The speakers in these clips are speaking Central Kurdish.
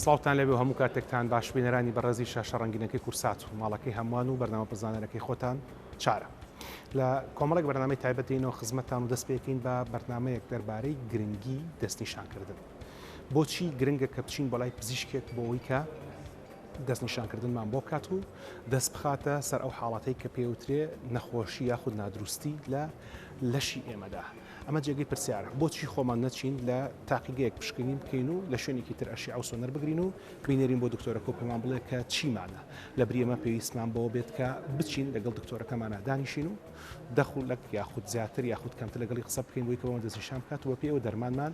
سڵاوتان لەبێ و هەموو کاتێکتان باش بینەرانی بەڕێزی شاشە ڕەنگینەکەی کورسات و ماڵەکەی هەمووان و بەرنامە پرزانەرەکەی خۆتان چارە لە کۆمەڵێک بەرنامەی تایبەتینەوە خزمەتتان و دەست پێکین بە بەرنمەیەک دەربارەی گرنگی دەستنیشانکردن بۆچی گرنگە کە بچین بەڵای پزیشکێک بۆ ئەوی کە دەستنیشانکردنمان بۆ بکات و دەست بخاتە سەر ئەو حاڵەتەی کە پێوترێ نەخۆشی یاخود نادروستی لە لەشی ئێمەدا ئەمە جێگەی پرسیارە بۆچی خۆمان نەچین لە تاقیگەیەک پشکنین بکەین و لە شوێنێکی تر ئەشی ئەو سۆنەر بگرین و بینێرین بۆ دکتۆرەکە و پێمان بڵێ کە چیمانە لە بریێمە پێویستمان بەوە بێت کە بچین لەگەڵ دکتۆرەکەمانە دانیشین و دەخولەک یاخود زیاتر یاخود کەمتر لەگەڵی قسە بکەین بۆی کەەوە دەستنیشان بکات و بە پێوە دەرمانمان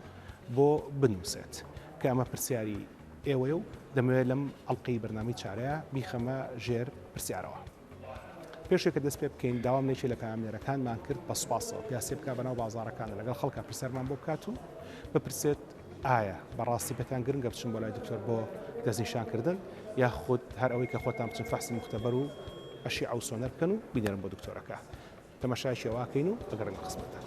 بۆ بنووسێت کە ئەمە پرسیاری ئێوەیە و دەمەوێت لەم ئەڵقەی بەرنامەی چارەیە بیخەمە ژێر پرسیارەوە. پێش ئەوەی کە دەست پێ بکەین داوام لە یەکێک لە پەیامنێرەکانمان کرد بە سوپاسەوە پیاسێ بکات بەناو بازاڕەکاندا لەگەڵ خەڵکە پرسیارمان بۆ بکات و بپرسێت ئایا بەڕاستی پێتان گرنگە بچن بۆ لای دکتۆر بۆ دەستنیشانکردن یاخود هەر ئەوەی کە خۆتان بچن فەحسی مختبەر و ئەشیعە و سۆنەر بکەن و بینێرن بۆ دکتۆرەکە. تەماشایەکی ئەو ئاکەین و ئەگەڕێمە خزمەتتان.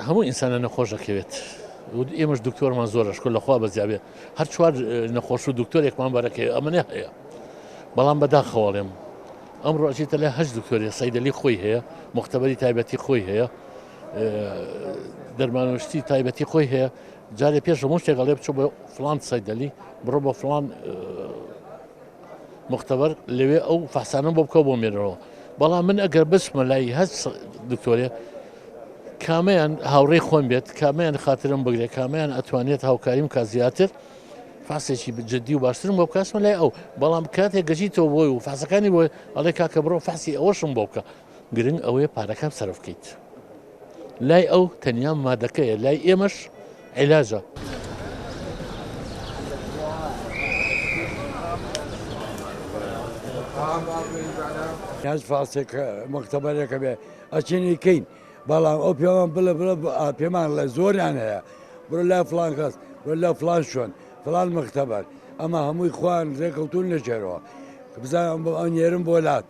هەموو ئینسانە نەخۆش دەکەوێت. ئێمەش دکتۆرمان زۆرە شکر لە خوا بەزیابێ هەر چوار نەخۆش و دکتۆرێکمان بەرەکەی ئەمەە هەیە بەڵام بەداخەواڵێم ئەم ڕۆژی تەلێ هەش دکتۆری سەیدەلی خۆی هەیە مختبەری تایبەتی خۆی هەیە دەرمانشتی تایبەتی خۆی هەیە جارێ پێش هەموو شتێکەڵێ بچ بە فلان سەیدەلی بڕۆ بە فلان مختبر لەوێ ئەو فەحسانە بۆ بکەوە بۆ مێنەوە بەڵام من ئەگەر بچمە لای هەست دکتۆرێ کامیان هاوڕێ خۆم بێت کامیان خاترم بگرێت کامیان ئەتوانێت هاوکاریم کا زیاتر فاسێکی جددی و باشترم بۆ بکەسمە لای ئەو بەڵام کاتێک گەژیتەوە بۆی و فاسەکانی بۆی ئەڵێ کاکە بڕۆ فاسی ئەوەشم بۆ بکە گرنگ ئەوەیە پارەکان سەرف کەیت لای ئەو تەنیا مادەکەیە لای ئێمەش عیلاجە. هەز فاسێک مختبەرێکە بێ ئەچێنی کەین بەڵام ئەو پێوان بڵێ بڵە پێمان لە زۆریان هەیە بۆ لا فلان کەس بۆ لا فلان شوێن فلان مختبەر ئەمە هەمووی خوان ڕێکەوتون لەژێرەوە بزانم بۆ ئەنێرم بۆ لات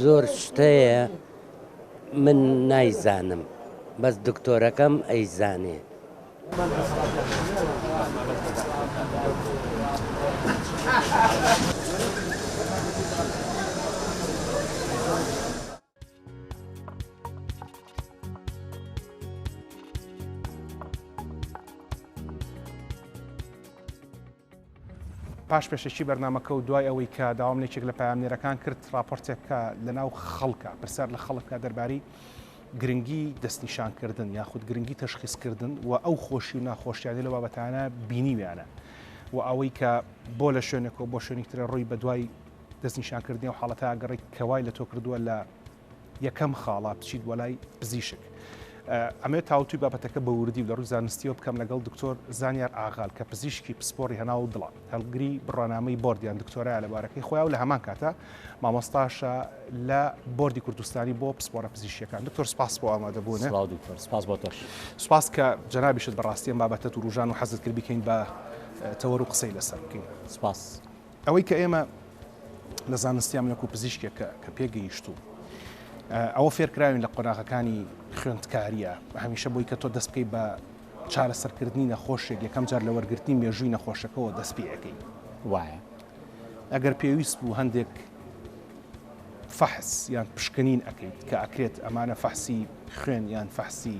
زۆر شتەیە من نایزانم بەس دکتۆرەکەم ئەیزانێ. پاش پێشەکی بەرنامەکە و دوای ئەوەی کە داوام لە یەکێک لە پەیامنێرەکان کرد ڕاپۆرتێک کە لەناو خەڵکە پرسیار لە خەڵک بکات دەربارەی گرنگی دەستنیشانکردن یاخود گرنگی تەشخیصکردن و ئەو خۆشی و ناخۆشیانی لە بابەتانە بینیویانە و ئەوەی کە بۆ لە شوێنێکەوە بۆ شوێنی ترە ڕووی بە دوای دەستنیشانکردنی و حاڵەتە ئەگەڕی کەوای لە تۆ کردووە لە یەکەم خاڵە بچیت بۆ لای پزیشک. ئەمەوێت تاوتوی بابەتەکە بە وردی و لە ڕووی زانستیەوە بکەم لەگەڵ دکتۆر زانیار ئاغال کە پزیشکی پسپۆری هەناو و دڵە هەڵگری بڕوانامەی بۆردیان دکتۆرای لە بارەکەی خۆیان و لە هەمان کاتە مامۆستاشە لە بۆردی کوردستانی بۆ پسپۆرە پزیشیەکان دکتۆر سپاس بۆ ئامادە بوون سپاس بۆ تۆش سپاس کە جەنابیشت بەڕاستیان بابەتە و ڕژان و حەزت کرد بکەین بە تەوەر و قسەی لەسەر بکەین سپاس. ئەوەی کە ئێمە لە زانستیان وەکو پزیشکێکە کە پێگەیشتوو ئەوە فێرکراوین لە قۆناغەکانی خوێندکاریە هەمیشە بۆی کە تۆ دەست بکەیت بە چارەسەرکردنی نەخۆشێک یەکەم جار لە وەرگرتنی مێژووی نەخۆشەکەەوە دەست پێەکەی وایە ئەگەر پێویست بوو هەندێک فەحس یان پشکنین ئەەکەیت کە ئەکرێت ئەمانە فەحسی خوێن یان فەحسی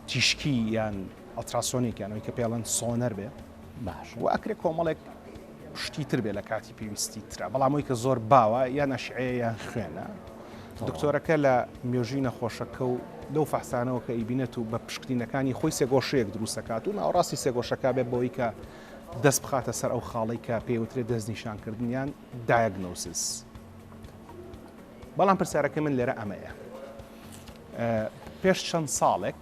تیشکی یان ئەلتراسۆنێکیانەوەی کە پێڵەن سۆنەر بێت باش و ئەکرێ کۆمەڵێک شتی تر بێ لە کاتی پێویستی تررا بەڵامەوەی کە زۆر باوە یان نەشعەیە یان خوێنە دکتۆرەکە لە مێژووی نەخۆشەکە و لەو فەحسانەوە کە ئیبینەت و بە پشکنینەکانی خۆی سێگۆشەیەک دروستەکات و ناوڕاستی سێگۆشەکە بێ بەوەی کە دەست بخاتە سەر ئەو خاڵی کە پێوترێت دەست نیشانکردنیان دایگنۆسیس بەڵام پرسیارەکە من لێرە ئەمەیە پێش چەند ساڵێک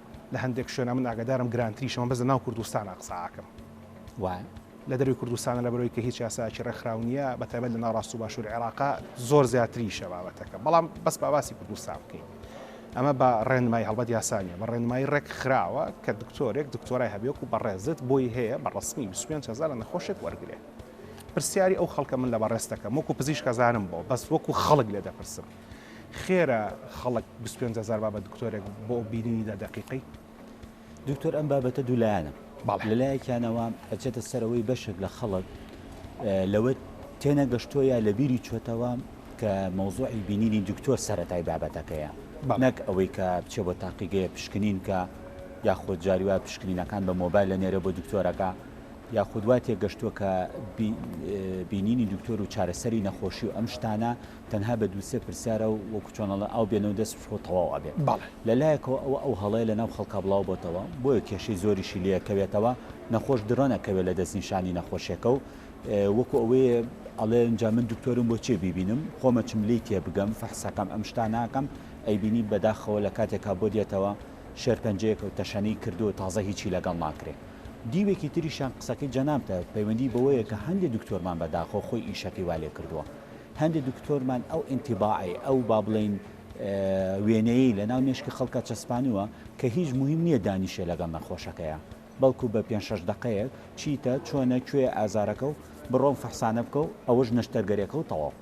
لە هەندێک شوێنا من ئاگادارم گرانتریشە من بەس لە ناو کوردستانا قسە ئاکەم وایە لە دەروی کوردستانە لە بەرەوەی کە هیچ یاسایەکی ڕێکخراو نییە بە تایبەت لە ناڕاست و باشووری عێراقا زۆر زیاتریشە بابەتەکە بەڵام بەس باواسی کوردستان بکەین ئەمە بە ڕێنمای هەڵبەت یاسانیە بە ڕێنمایی ڕێک خراوە کە دکتۆرێک دکتۆرای هەبێک و بەڕێزت بۆی هەیە بە ڕسمی 25 هزار لە نەخۆشێک وەرگێ پرسیاری ئەو خەڵکە من لە بەڕێستەکەم وەکو پزیشکەزانم بۆ بەس وەکو خەڵک لێ دەپرسم خێرە خەڵک بیست و پێنج هەزار بابەت دکتۆرێک بۆ بینینی دە دەقیقەی دکتۆر ئەم بابەتە دوولایەنە بەڵێ. لەلایەکیانەوە ئەچێتە سەرەوەی بەشێک لە خەڵک اه، لەوە تێنەگەشتووە یا لە بیری چۆتەوە کە مەوزوعی بینینی دکتۆر سەرەتای بابەتەکەیە بەڵێ. نەک ئەوەی کە بچێ بۆ تاقیگەیە پشکنین کە یاخود جاری وایە پشکنینەکان بە مۆبایل ئەنێرێ بۆ دکتۆرەکە یاخود وا تێگەشتووە کە بی- اه، بینینی دکتۆر و چارەسەری نەخۆشی و ئەم شتانە تەنها بە دوو سێ پرسیارە و وەکو چۆن ئەڵێن ئاو بێنەو دەست بشۆ و تەواو ئەبێت. بەڵێ. لە لایەکەوە ئەوە ئەو هەڵەیە لە ناو خەڵکا بڵاو بۆتەوە بۆیە کێشەی زۆریشی لێ ئەکەوێتەوە، نەخۆش درۆن ئەکەوێت لە دەست نیشانی نەخۆشێکە و وەکو ئەوەیە ئەڵێ ئینجا من دکتۆرم بۆ چیە بیبینم، خۆم ئەچم لێی تێ بگەم، فەحس ئەکەم ئەم شتانە ئەکەم، ئەیبینی بەداخەوە لە کاتێکا بۆ دێتەوە شێرپەنجەیەکە و تەشەنەی کردووە و تازە هیچی لەگەڵ ناکرێ. دیوێکی تریشیان قسەکەی جەنابتە پەیوەندی بەوەیە کە هەندێ دکتۆرمان بەداخەوە خۆی ئیشەکەی وا لێ کردووە، هەندێ دکتۆرمان ئەو ئینتیباعەی، ئەو با بڵێین وێنەیەی لەناو مێشکی خەڵکا چەسپانووە کە هیچ موهیم نییە دانیشێ لەگەڵ نەخۆشەکەیا، بەڵکوو بە پێنج شەش دەقەیەک چیتە، چۆنە، کوێیە ئازارەکە و بڕۆ ئەم فەحسانە بکە و ئەوەش نەشتەرگەرێکە و تەواو.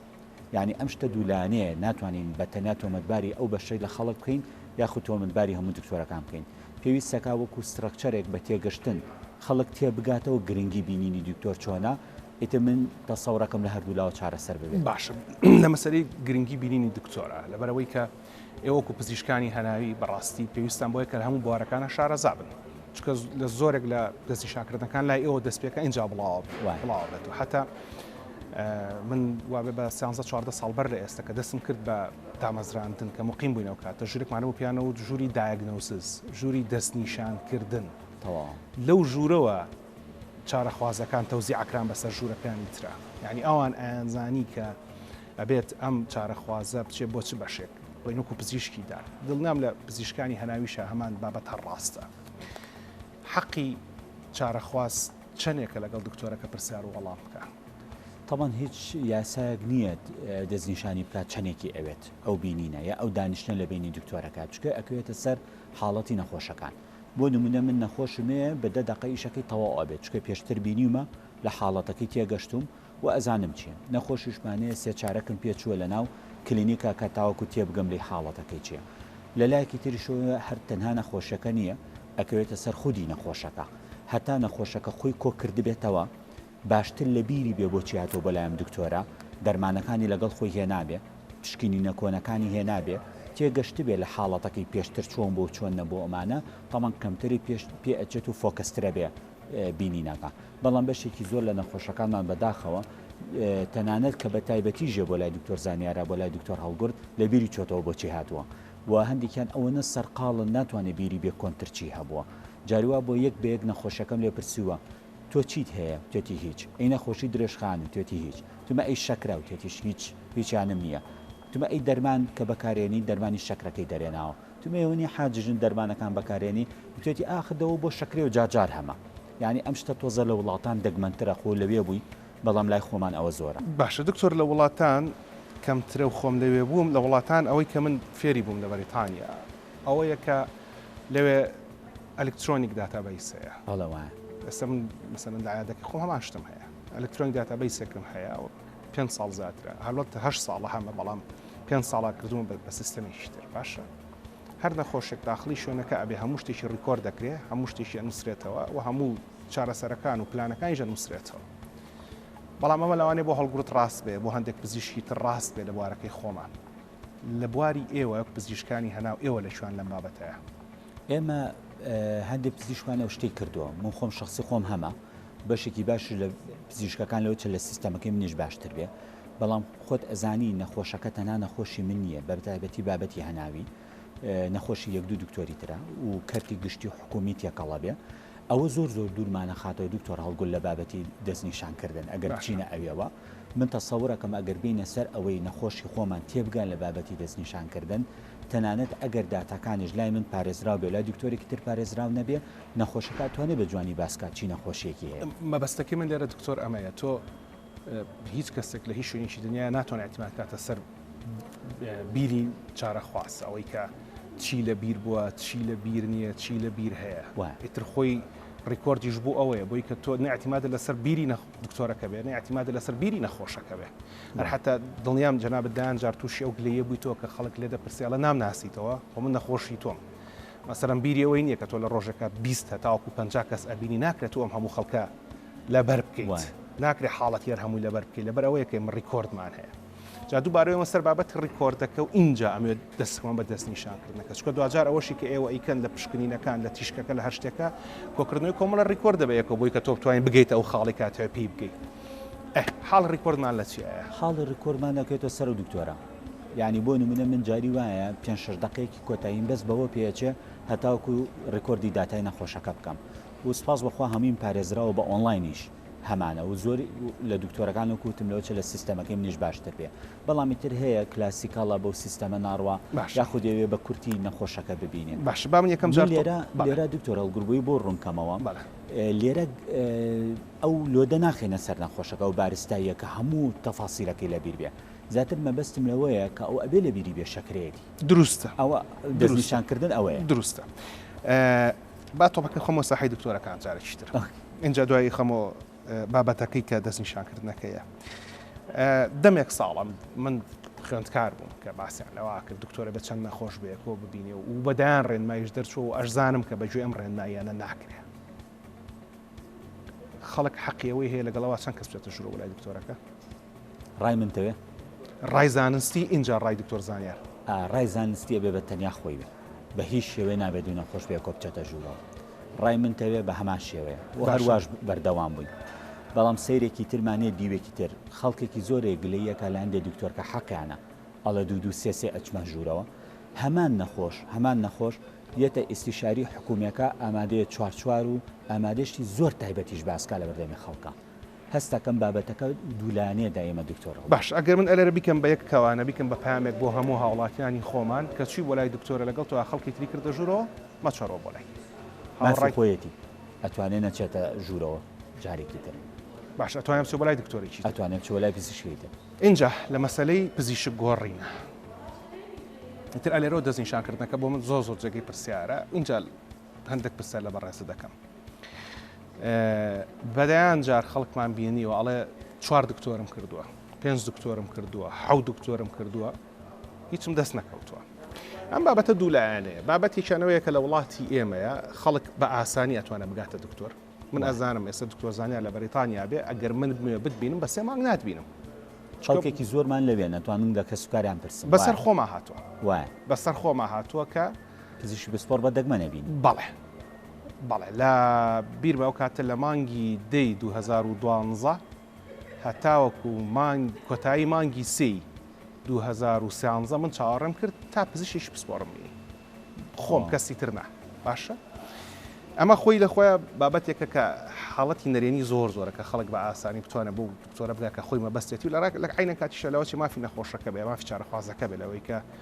یانی ئەم شتە دوو لایەنەیە، ناتوانین بە تەنیا تۆمەتباری ئەو بەشەی لە خەڵک بکەین یاخود تۆمەتباری هەموو دکتۆرەکان بکەین. پێویستەکا وەکوو سترەکچەرێک بە تێگەشتن خەڵک تێبگاتەوە گرنگی بینینی دکتۆر چۆنە، ئیتر من تەسەورەکەم لە هەردوو لاوە چارەسەر ببێت. باشە لە مەسەلەی گرنگی بینینی دکتۆرە لەبەرەوەی کە ئێوە وەکو پزیشکانی هەناوی بەڕاستی پێویستان بۆیە کە لە هەموو بوارەکانە شارەزا بن چکە لە زۆرێک لە دەستی شاکردەکان لای ئێوە دەست پێکە ئینجا بڵاوە وای. بڵاوە بێت و حتا ئە، من وابێ بە سیانزە چواردە ساڵ بەر لە ئێستا کە دەستم کرد بە دامەزراندن کە مقیم بووین ئەو کاتە ژوورێکمانە بۆ پیانەوە و ژووری دایگنۆسز ژووری دەستنیشانکردن تەواو. لەو ژوورەوە چارەخوازەکان تەوزیع کران بەسەر ژوورەکانی ترا یعنی ئەوان ئەیانزانی کە ئەبێت ئەم چارەخوازە بچێت بۆ چ بەشێک بۆی نوکو پزیشکی دا دڵنیام لە پزیشکانی هەناویشە هەمان بابەت هەر ڕاستە حەقی چارەخواز چەندێکە لەگەڵ دکتۆرەکە پرسیار و وەڵام بکە طبعا هیچ یاسایەک نییە دەستنیشانی بکات چەندێکی ئەوێت ئەو بینینە یا ئەو دانیشتە لە بینی دکتۆرەکە چکە ئەکوێتە سەر حاڵەتی نەخۆشەکان بۆ نمونە من نەخۆشمێ بە دە دەقە ئیشەکەی تەواو ئەبێت چونکە پێشتر بینیومە لە حاڵەتەکەی تێگەشتوم و ئەزانم چیە نەخۆشیشمانێ سێ چارەکم پێ چوە لە ناو کلینیکا کا تاوەکو تێبگەم لێی حاڵەتەکەی چیە لە لایەکی تریشەوە هەر تەنها نەخۆشەکە نیە ئەکەوێتە سەر خودی نەخۆشەکە هەتا نەخۆشەکە خۆی کۆ کردبێتەوە باشتر لە بیری بێ بۆچی هاتووە بۆ لای ئەم دکتۆرە، دەرمانەکانی لەگەڵ خۆی هێنابێ، پشکنینە کۆنەکانی هێنابێ، تێگەشتبێ لە حاڵەتەکەی پێشتر چۆن بوو و چۆن نەبوو ئەمانە تەمەن کەمتری پێش پێ ئەچێت و فۆکەسترەبێ بینینەکە بەڵام بەشێکی زۆر لە نەخۆشەکانمان بەداخەوە تەنانەت کە بە تایبەتیژێ بۆ لای دکتۆر زانیارا بۆ لای دکتۆر هەڵگورد لە بیری چۆتەوە بۆچی هاتووە و هەندێکیان ئەوەنە سەرقاڵن ناتوانێ بیری بێ کۆنترچی هەبووە جاریوا بۆ یەک بە یەک نەخۆشەکەم لێ پرسیوە تۆ چیت هەیە؟ وتێتی هیچ. ئەی نەخۆشی درێژخان؟ وتێتی هیچ. وتمە ئەی شەکرە؟ وتێتیش هیچ، هیچیانم نییە. وتمە ئەی دەرمان کە بەکارێنی؟ دەرمانی شەکرەکەی دەرێناوە. وتم ئێوە نی حاجی ژن دەرمانەکان بەکارێنی؟ وتێتی ئاخر دەوە بۆ شەکرەی و جار جار هەمە. یانی ئەم شتە تۆزە لە وڵاتان دەگمەنترە، خۆ لەوێ بووی، بەڵام لای خۆمان ئەوە زۆرە. باشە دکتۆر لە وڵاتان کەمترە و خۆم لەوێ بووم، لە وڵاتان ئەوەی کە من فێری بووم لە بەریتانیا ئەوەیە کە لەوێ، ئەلکترۆنیک داتابەیس هەیە. بەڵێ وایە. ئێستا من مەسەلەن لە عەیادەکەی خۆم هەمان شتم هەیە. ئەلکترۆنیک داتابەیسێکم هەیە و پێنج ساڵ زیاترە. هەڵبەت هەشت ساڵە هەمە بەڵام پێنج ساڵە کردوومە بە سیستەمێکی تر. باشە هەر نەخۆشێک داخڵی شوێنەکە ئەبێ هەموو شتێکی ڕیکۆرد دەکرێ، هەموو شتێکی ئەنووسرێتەوە و هەموو چارەسەرەکان و پلانەکانیش ئەنووسرێتەوە. بەڵام ئەمە لەوانەیە بۆ هەڵگوڕت ڕاست بێ، بۆ هەندێک پزیشکی تر ڕاست بێ لە بوارەکەی خۆمان. لە بواری ئێوە پزیشکانی هەناو ئێوە لە کوێن لەم بابەتەیە؟ ئێمە هەندێک پزیشکمان ئەو شتەی کردووە من خۆم شخصی خۆم هەمە بەشێکی باش لە پزیشکەکان لەو چە لە سیستەمەکەی منیش باشتر بێ بەڵام خۆت ئەزانی نەخۆشەکە تەنا نەخۆشی من نییە بەتایبەتی بابەتی هەناوی نەخۆشی یەک دوو دکتۆری تررا و کەرتی گشتی و حکومی تێکەڵە بێ ئەوە زۆر زۆر دوورمانەخاتەوە دکتۆر هەڵگول لە بابەتی دەست نیشان کردن ئەگەر بچینە ئەوێوە من تەسەور ئەکەم ئەگەر بینە سەر ئەوەی نەخۆشی خۆمان تێبگان لە بابەتی دەست نیشان کردن تەنانەت ئەگەر داتاکانیش لای من پارێزراو بێ لای دکتۆرێکی تر پارێزراو نەبێ نەخۆشەکە ئەتوانێ بە جوانی باسکات چی نەخۆشیەکی هەیە. مەبەستەکەی من لێرە دکتۆر ئەمەیە تۆ هیچ کەسێک لە هیچ شوێنێکی دنیا ناتوان اعتماد کاتە سەر بیری چارەخواست ئەوەی کە چی لە بیر بووە چی لە بیر نییە چی لە بیر هەیە ئیتر خۆی ڕیکۆردیش بوو ئەوەیە بۆی کە تۆ نعتیمادە لەسەر بیری دکتۆرەکە بێ نعتیمادە لەسەر بیری نەخۆشەکە بێ هەر حتا دڵنیام جەناب دایان جار تووشی ئەو گلەیە بووی تۆ کە خەڵک لێ دەپرسیالە نام ناسیتەوە خۆ من نەخۆشی تۆم مەسەرم بیریەوەی نییە کە تۆ لە ڕۆژێکە بیست هەتاوەکو پ کەس ئەبینی ناکرێت و ئەم هەموو خەڵکە لەبەر بکەیت ناکرێ حاڵەتی هەر هەمووی لەبەر بکەیت لەبەر ئەوەیە کە ڕیکۆردمان هەیە جا دووبارەوە سەر بابەت ڕیکۆردەکە و اینجا ئەمێ دەستمان بە دەست نیشانکردنەکە چکە دوجار ئەوەشی کە ئێوە ئیکەن لە پشکنینەکان لە تیشکەکە لە هەر شتێکە کۆکردنەوەی کۆمەڵە ڕیکۆردە بە یەکەوە بۆی کە تۆ بتوانین بگەیت ئەو خاڵی کاتەوە پێی بگەیت حاڵ ڕیکۆردمان لە چیە حاڵی ڕیکۆرمان دەکەێتە سەر و دکتۆرە ینی بۆ نمونە من جاری وایە پێ شش دقێکی کۆتاییم بەس بەوە پێچێ هەتاوکو ڕیکۆردی داتای نەخۆشەکە بکەم و سپاس بەخوا هەموویم پارێزراوە بە ئۆنڵاینیش هەمانە و زۆر لە دکتۆرەکان وەکو وتم لەوە چە لە سیستەمەکەی منیش باشتر بێ بەڵامی تر هەیە کلاسیکاڵە بەو سیستەمە ناڕوا باشە یاخود یەوێ بە کورتی نەخۆشەکە ببینێ باشە با من یەکەم من جار تۆ لێرە بەڵێ لێرە دکتۆر هەڵگوربووی بۆ ڕوون کەمەوە بەڵێ ئێ لێرە ئێ ئەو لۆدە ناخەینە سەر نەخۆشەکە و بارستاییە کە هەموو تەفاسیلەکەی لە بیر بێ زیاتر مەبەستم لەوەیە کە ئەو ئەبێ لە بیری بێ شەکرەیەتی دروستە ئەوە دروستە دەستنیشان کردن ئەوەیە. دروستە ئێ با تۆپەکە خەمۆ ساحەی دکتۆرەکان جارێکی تر ئینجا دوایی خەمۆ بابەتەکەی کە دەست نیشانکردنەکەیە دەمێک ساڵم من خوێندکار بووم کە باسیان لەوا کرد دکتۆرە بە چەند نەخۆش بەیەکۆ ببینێ و بەدایان ڕێنمایش دەرچوە و ئەشزانم کە بەگوێ ئەم ڕێنماییانە ناکرێ خەڵک حەقیەوەی هەیە لەگەڵەوە چەند کەس بێتە ژورە وەلای دکتۆرەکە ڕای من تەوێ؟ ڕای زانستی ئینجا ڕای دکتۆر زانیار. ئا ڕای زانستی ئەبێ بە تەنیا خۆی بێ بە هیچ شێوەی نابێ دوو نەخۆش بێ کۆ بچێتە ژوورەوە ڕای من تەوێ بە هەمان شێوەیە و باشە. هەرواش بەردەوام بووین بەڵام سەیرێکی ترمان هەیە دیوێکی تر خەڵکێکی زۆرێ گلەی ئەکا لە هەندێ دکتۆر کە حەقیانە ئەڵێ دوو دوو سێ سێ ئەچمە ژوورەوە هەمان نەخۆش هەمان نەخۆش یەتە ئیستیشاری حکوومیەکە ئامادەیە چوار چوار و ئامادەشتی زۆر تایبەتیش باس کا لە بەردەمی خەڵکا هەستەکەم بابەتەکە دوولایەنەیە دا ئێمە دکتۆر هەڵۆ. باش ئەگەر من ئەلێرە بیکەم بە یەک کەوانە بیکەم بە پەیامێک بۆ هەموو هاوڵاتیانی خۆمان کە چوی بۆ لای دکتۆرە لەگەڵ تۆ خەڵکی تری کردە ژورەوە مەچۆرەوە بۆ لای مافی هاوڕای خۆیەتی ئەتوانێ نەچێتە ژورەوە جارێکی تر. باش ئەتوانێ بچێ بۆ لای دکتۆرێکی تر. ئەتوانێ بچێ بۆ لای پزیشکێکی تر. ئینجا لە مەسەلەی پزیشک گۆڕینە ئیتر ئەلێرەوە دەست نیشان کردنەکە بۆ من زۆر زۆر جێگەی پرسیارە ئینجا. هەندەک پرسیار لە بەڕێزت دەکەم بەدەیان جار خەڵکمان بینیوە ئەڵێ چوار دکتۆرم کردووە پێنج دکتۆرم کردووە حەو دکتۆرم کردووە هیچم دەست نەکەوتووە ئەم بابەتە دوولایەنەیە بابەتێکیانەوەیە کە لە وڵاتی ئێمەیە خەڵک بە ئاسانی ئەتوانە بگاتە دکتۆر من ئەزانم ئێستا دکتۆر زانیا لە بەریتانیا بێ ئەگەر من بمێ بتبینم بە سێ مانگ ناتبینم چڵکێکی زۆرمان لەوێ نەتوان من لە کەسوکاریان پرسم بەسەر خۆما هاتووە وایە بەسەر خۆما هاتووە کە پزیشکی پسپۆڕ بە دەگمەن ئەبینی. بەڵێ بەڵێ لە بیرمە ئەو کاتە لە مانگی دەی دوو هەزار و دوانزە هەتاوەکو مانگ کۆتایی مانگی سێی دوو هەزار و سیانزە من چاوەڕێم کرد تا پزیشکی پسپۆڕم بینی خۆم کەسی تر نا باشە ئەمە خۆی لە خۆیان بابەتێکە کە حاڵەتی نەرێنی زۆر زۆرە کە خەڵک بە ئاسانی بتوانە بۆ دکتۆرە بگا کە خۆی مەبەستێتی و لە ڕاک لە عینە کاتیشە لەوەی مافی نەخۆشەکە بێ مافی چارەخوازەکە بێ لەوەی کە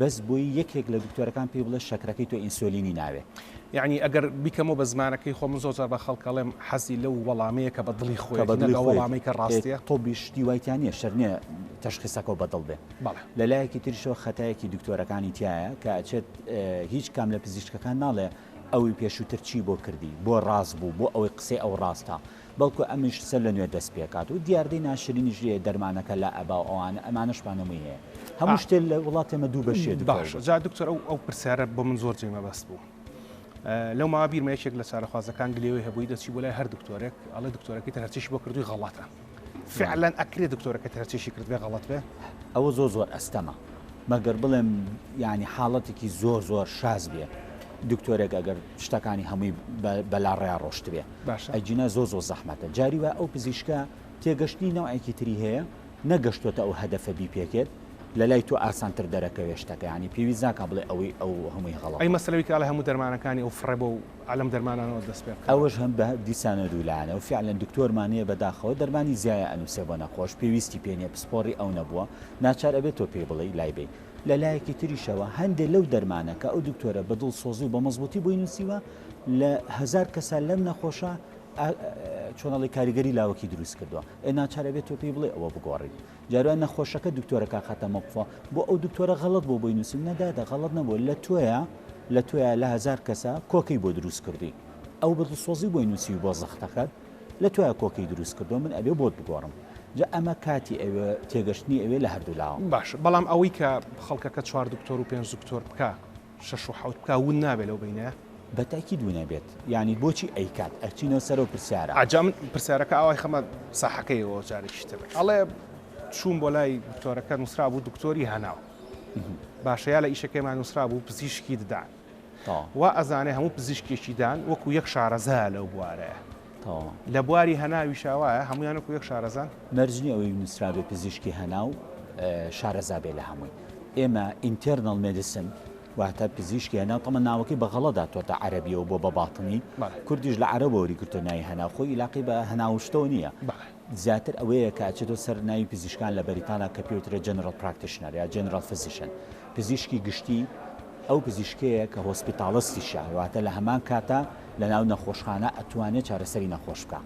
بەس بۆی یەکێک لە دکتۆرەکان پێی بڵێ شەکرەکەی تۆ ئینسۆلینی ناوێ. یەعنی ئەگەر بیکەمەوە بە زمانەکەی خۆم من زۆر جار بە خەڵک ئەڵێم حەزی لەو وەڵامەیە کە بە دڵی خۆیەتی نەک ئەو وەڵامەی کە ڕاستیە. تۆبی شتی وای تیا نیە شەرت نیە تەشخیسەکەو بە دڵ بێ. بەڵێ. لە لایەکی تریشەوە خەتایەکی دکتۆرەکانی تیایە کە ئەچێت هیچ کام لە پزیشکەکان ناڵێ ئەوی پێشووتر چی بۆ کردی؟ بۆ ڕاست بوو؟ بۆ ئەوەی قسەی ئەو ڕاستە؟ بەڵکو ئەمیش سەر لەنوێ دەست پێکات و دیاردەی ناشرینیش لێیە دەرمانەکە لا ئەبا و ئەوانە ئەمانەش مانەوەی هەیە هەموو شتێ لە وڵاتی ئێمە دوو بەشیە دکتۆر باشە جا دکتۆر ئەو ئەو پرسیارە بۆ من زۆر جێی مەبەست بوو لەو ماوە بیرمە یەکێک لە چارەخوازەکان گلێوەی هەبووی دەچی بۆ لای هەر دکتۆرێک ئەڵێ دکتۆرەکەی تر هەرچیش بۆ کردووی غەڵەتە فعلا ئەکرێ دکتۆرەکە تر هەرچیشی کردبێ غەڵەت بێ ئەوە زۆر زۆر ئەستەمە مەگەر بڵێم ینی حاڵەتێکی زۆر زۆر شاز بێ دکتۆرێک ئەگەر شتەکانی هەمووی بەلاڕێیا ڕۆشت بێ باشە. ئەگینا زۆر زۆر زەحمەتە. جاری وایە ئەو پزیشکە تێگەشتنی نەوعێکی تری هەیە، نەگەشتۆتە ئەو هەدەفە بیپێکێت، لە لای تۆ ئاسانتر دەرەکەوێت شتەکە، یانی پێویست ناکا بڵێ ئەوەی ئەو هەمووی هەڵەتە. ئەی مەسەلە بیکا لە هەموو دەرمانەکانی ئەو فڕێ بەو عەلەم دەرمانانەوە دەست پێ بکا. ئەوەش هەم بە دیسانە دوو لایەنە و فیعلەن دکتۆرمان هەیە بەداخەوە دەرمانی زیایە ئەنووسێ بۆ نەخۆش، پێویستی پێ نیە، پسپۆڕی ئەو نەبووە، ناچار ئەبێ تۆ پێی بڵێی لای بەی. لە لایەکی تریشەوە هەندێ لەو دەرمانە کە ئەو دکتۆرە بە دڵسۆزی و بە مەزبوطی بۆی نووسیوە لە هزار کەسە لەم نەخۆشە چۆنەڵی کاریگەری لاوەکی دروست کردووە ئێ ناچارە بێت تۆ پێی بڵێ ئەوە بگۆڕیت جاروان نەخۆشەکە دکتۆرەکە خەتەمەقفە بۆ ئەو دکتۆرە غەڵت بۆ بۆی نووسیم نەدادە غەڵت نەبوو لە تۆیە لە تۆیە لە هزار کەسە کۆکەی بۆ دروست کردی ئەو بە دڵسۆزی بۆی نووسی بۆ زەختەکەت لە تۆیا کۆکەی دروست کردوە من ئەبێ بۆت بگۆڕم جا ئەمە کاتی ئەوێ تێگەشتنی ئەوێ لە هەردوو لاوە. باشە بەڵام ئەوەی کە خەڵکەکە چوار دکتۆر و پێنج دکتۆر بکا شەش و حەوت بکا ون نابێ لەو بەینەیا؟ بە تەئکید ون ئەبێت یانی بۆچی ئەیکات ئەچینەوە سەرەو پرسیارە. جا من پرسیارەکە ئاوا ئەیخەمە ساحەکەیەوە جارێکی تر ئەڵێ چووم بۆ لای دکتۆرەکە نوسرابوو دکتۆری هەناو باشە یا لە ئیشەکەیما نوسرابوو پزیشکی ددان وا ئەزانێ هەموو پزیشکێکی دان وەکو یەک شارەزایە لەو بوارەیە. لە بواری هەناویشا وایە هەموویان وەکو یەک شارەزان؟ مەرج نییە ئەوەی نووسرابێ پزیشکی هەناو شارەزا بێ لە هەمووی. ئێمە ئینتێرنەڵ مێدیسن واتە پزیشکی هەناو، تەڵە ناوەکەی بە غەڵەت هاتووەتە عەرەبییەوە بۆ بە باطنی، کوردیش لە عەرەبەوە وەری گرتووە ناوی هەناو، خۆی ئیلاقەی بە هەناو و شتەوە نییە. زیاتر ئەوەیە کە ئەچێتەوە سەر ناوی پزیشکان لە بەریتانیا کە پێی وترێ جەنرەڵ پراکتیشنەر یا جەنرەڵ فزیشن. پزیشکی گشتی ئەو پزیشکەیە کە هۆسپیتاڵستیشە واتە لە هەمان کاتا لە ناو نەخۆشخانە ئەتوانێ چارەسەری نەخۆش بکا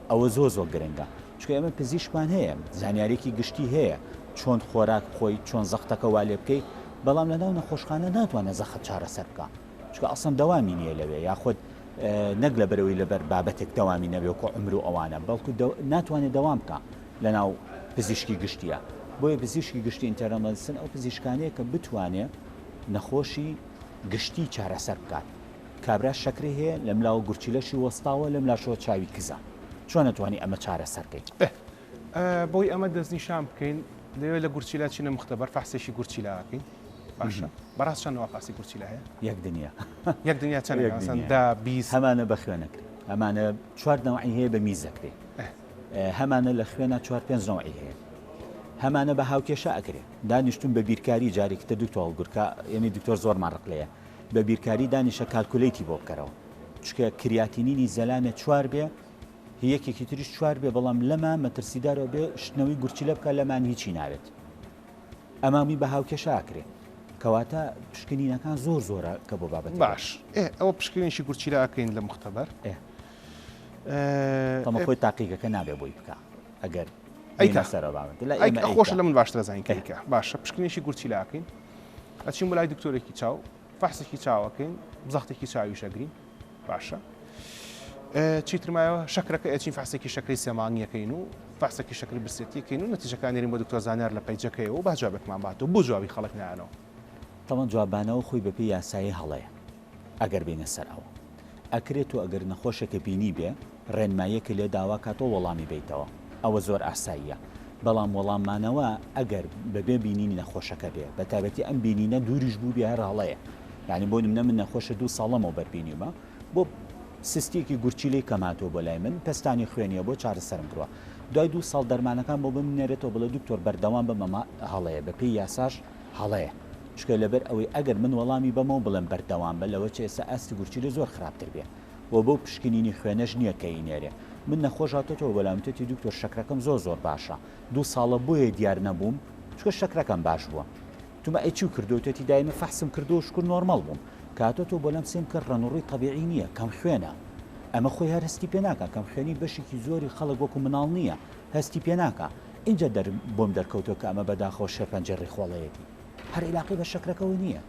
ئەوە زۆر زۆر گرنگە چونکە ئێمە پزیشکمان هەیە زانیارێکی گشتی هەیە چۆن خۆراک بخۆی چۆن زەختەکە وا لێ بکەی بەڵام لە ناو نەخۆشخانە ناتوانێ زەخت چارەسەر بکا چونکە ئەسڵەن دەوامی نییە لەوێ یاخود نەک لەبەرەوەی لەبەر بابەتێک دەوامی نەبێ وەکو عمر و ئەوانە بەڵکو ناتوانێ دەوام بکا لەناو پزیشکی گشتیە بۆیە پزیشکی گشتی ئینتەرەمەدسن ئەو پزیشکانەیە کە بتوانێ نەخۆشی گشتی چارەسەر بکات کابرا شەکری هەیە لەم لاوە گورچیلەشی وەستاوە لەم لاشەوە چاوی کزە چۆن نەتوانانی ئەمە چارەسەرکەین بۆی ئەمە دەستنیشان بکەین لەوێ لە گورچیلا چینە مختبەر فەحسێکی گورچیلاکەین باشە بەڕاست چەند وافاسی گورچیلا هەیە یەک دنیا یەک دنیا چەند هەمانە بە خوێنەکرێت ئەمانە چوار نەوەی هەیە بە میزەکرێت هەمانە لە خوێنا چوار پێنج نەوعی هەیە هەمانە بە هاوکێشە ئەکرێ دانیشتون بە بیرکاری جارێکی تر دکتۆر هەڵگورکە ئێمەی دکتۆر زۆرمان ڕق لێیە بە بیرکاری دانیشە کالکولەیتی بۆ بکەرەوە چکە کریاتینینی زەلامێ چوار بێ یەکێکی تریش چوار بێ بەڵام لەما مەترسیدارەوە بێ شتنەوەی گورچیلە بکە لەمان هیچی ناوێت ئەمامی بە هاوکێشە ئاکرێ کەواتە پشکنینەکان زۆر زۆرە کە بۆ بابەت باش ئێ ئەوە پشکنینشی گورچیلە ئاکەین لە مختبەر ئێ تەمە خۆی تاقیگەکە نابێ بۆی بکا ئەگەر ئەیکا سەرە باوەت لە ئێمە خۆش لە من باشترە زانین کەیکە باشە پشکنیشی گورچی لاکەین ئەچین بۆ لای دکتۆرێکی چاو فەحسێکی چاوەکەین بزەختێکی چاوی شەگرین باشە چیترمایەوە شەکرەکە ئەچین فەحسێکی شەکری سێمانگیەکەین و فەحسێکی شەکری برسێتیکەین و نەتیجەکان نێرین بۆ دکتۆر زانیار لە پەیجەکەی و باجابێکمان باتەوە بۆ جوابی خەڵک نانەوە تاوان جوابانەوە خۆی بە پێی یاسایی هەڵەیە ئەگەر بێینە سەر ئەوە ئەکرێ تۆ ئەگەر نەخۆشێکە بینیبێ ڕێنماییەکە لێ داوا کا تۆ وەڵامی بەیتەوە ئەوە زۆر ئاساییە بەڵام وەڵام مانەوە ئەگەر بەبێ بینینی نەخۆشەکە بێ بە تابەتی ئەم بینینە دووریش بوو بێ هەر هەڵەیە یعنی بۆ نمنە من نەخۆشە دوو ساڵەمەوە بەربینیمە بۆ سستیەکی گورچیلەی کەماتۆ بۆ لای من پستانی خوێنیە بۆ چارەسەرم بڕە دوای دوو ساڵ دەرمانەکان بۆ بمنێرێتەوە بڵێ دکتۆر بەردەوام بە مەما هەڵەیە بە پێی یاساش هەڵەیە چونکە لەبەر ئەوەی ئەگەر من وەڵامی بەمەوە بڵێم بەردەوام بە لەوە چ ئێستا ئاستی گورچیلە زۆر خراپتر بێ و بەو پشکنینی خوێنەش نییە کە ئینێرێ من نەخۆش هاتۆتەوە بەلام وتێتی دکتۆر شەکرەکەم زۆر زۆر باشە دوو ساڵە بۆیە دیار نەبووم چکە شەکرەکەم باش بووە تومە ئەی چی کردو تێتی دایمە فەحسم کردو شکر نۆرمەڵ بووم کاتۆ تۆ بەلام سێم کە ڕەنوڕی طبیعی نییە کەم خوێنە ئەمە خۆی هەر هەستی پێناکە کەم خوێنی بەشێکی زۆری خەڵک وەکو مناڵ نییە هەستی پێناکە ئینجا دەر بۆم دەرکەوتوە کە ئەمە بەداخەوە شێرپەنجەی ڕیخۆڵەیەتی هەر ئیلاقەی بە شەکرەکەەوە نییە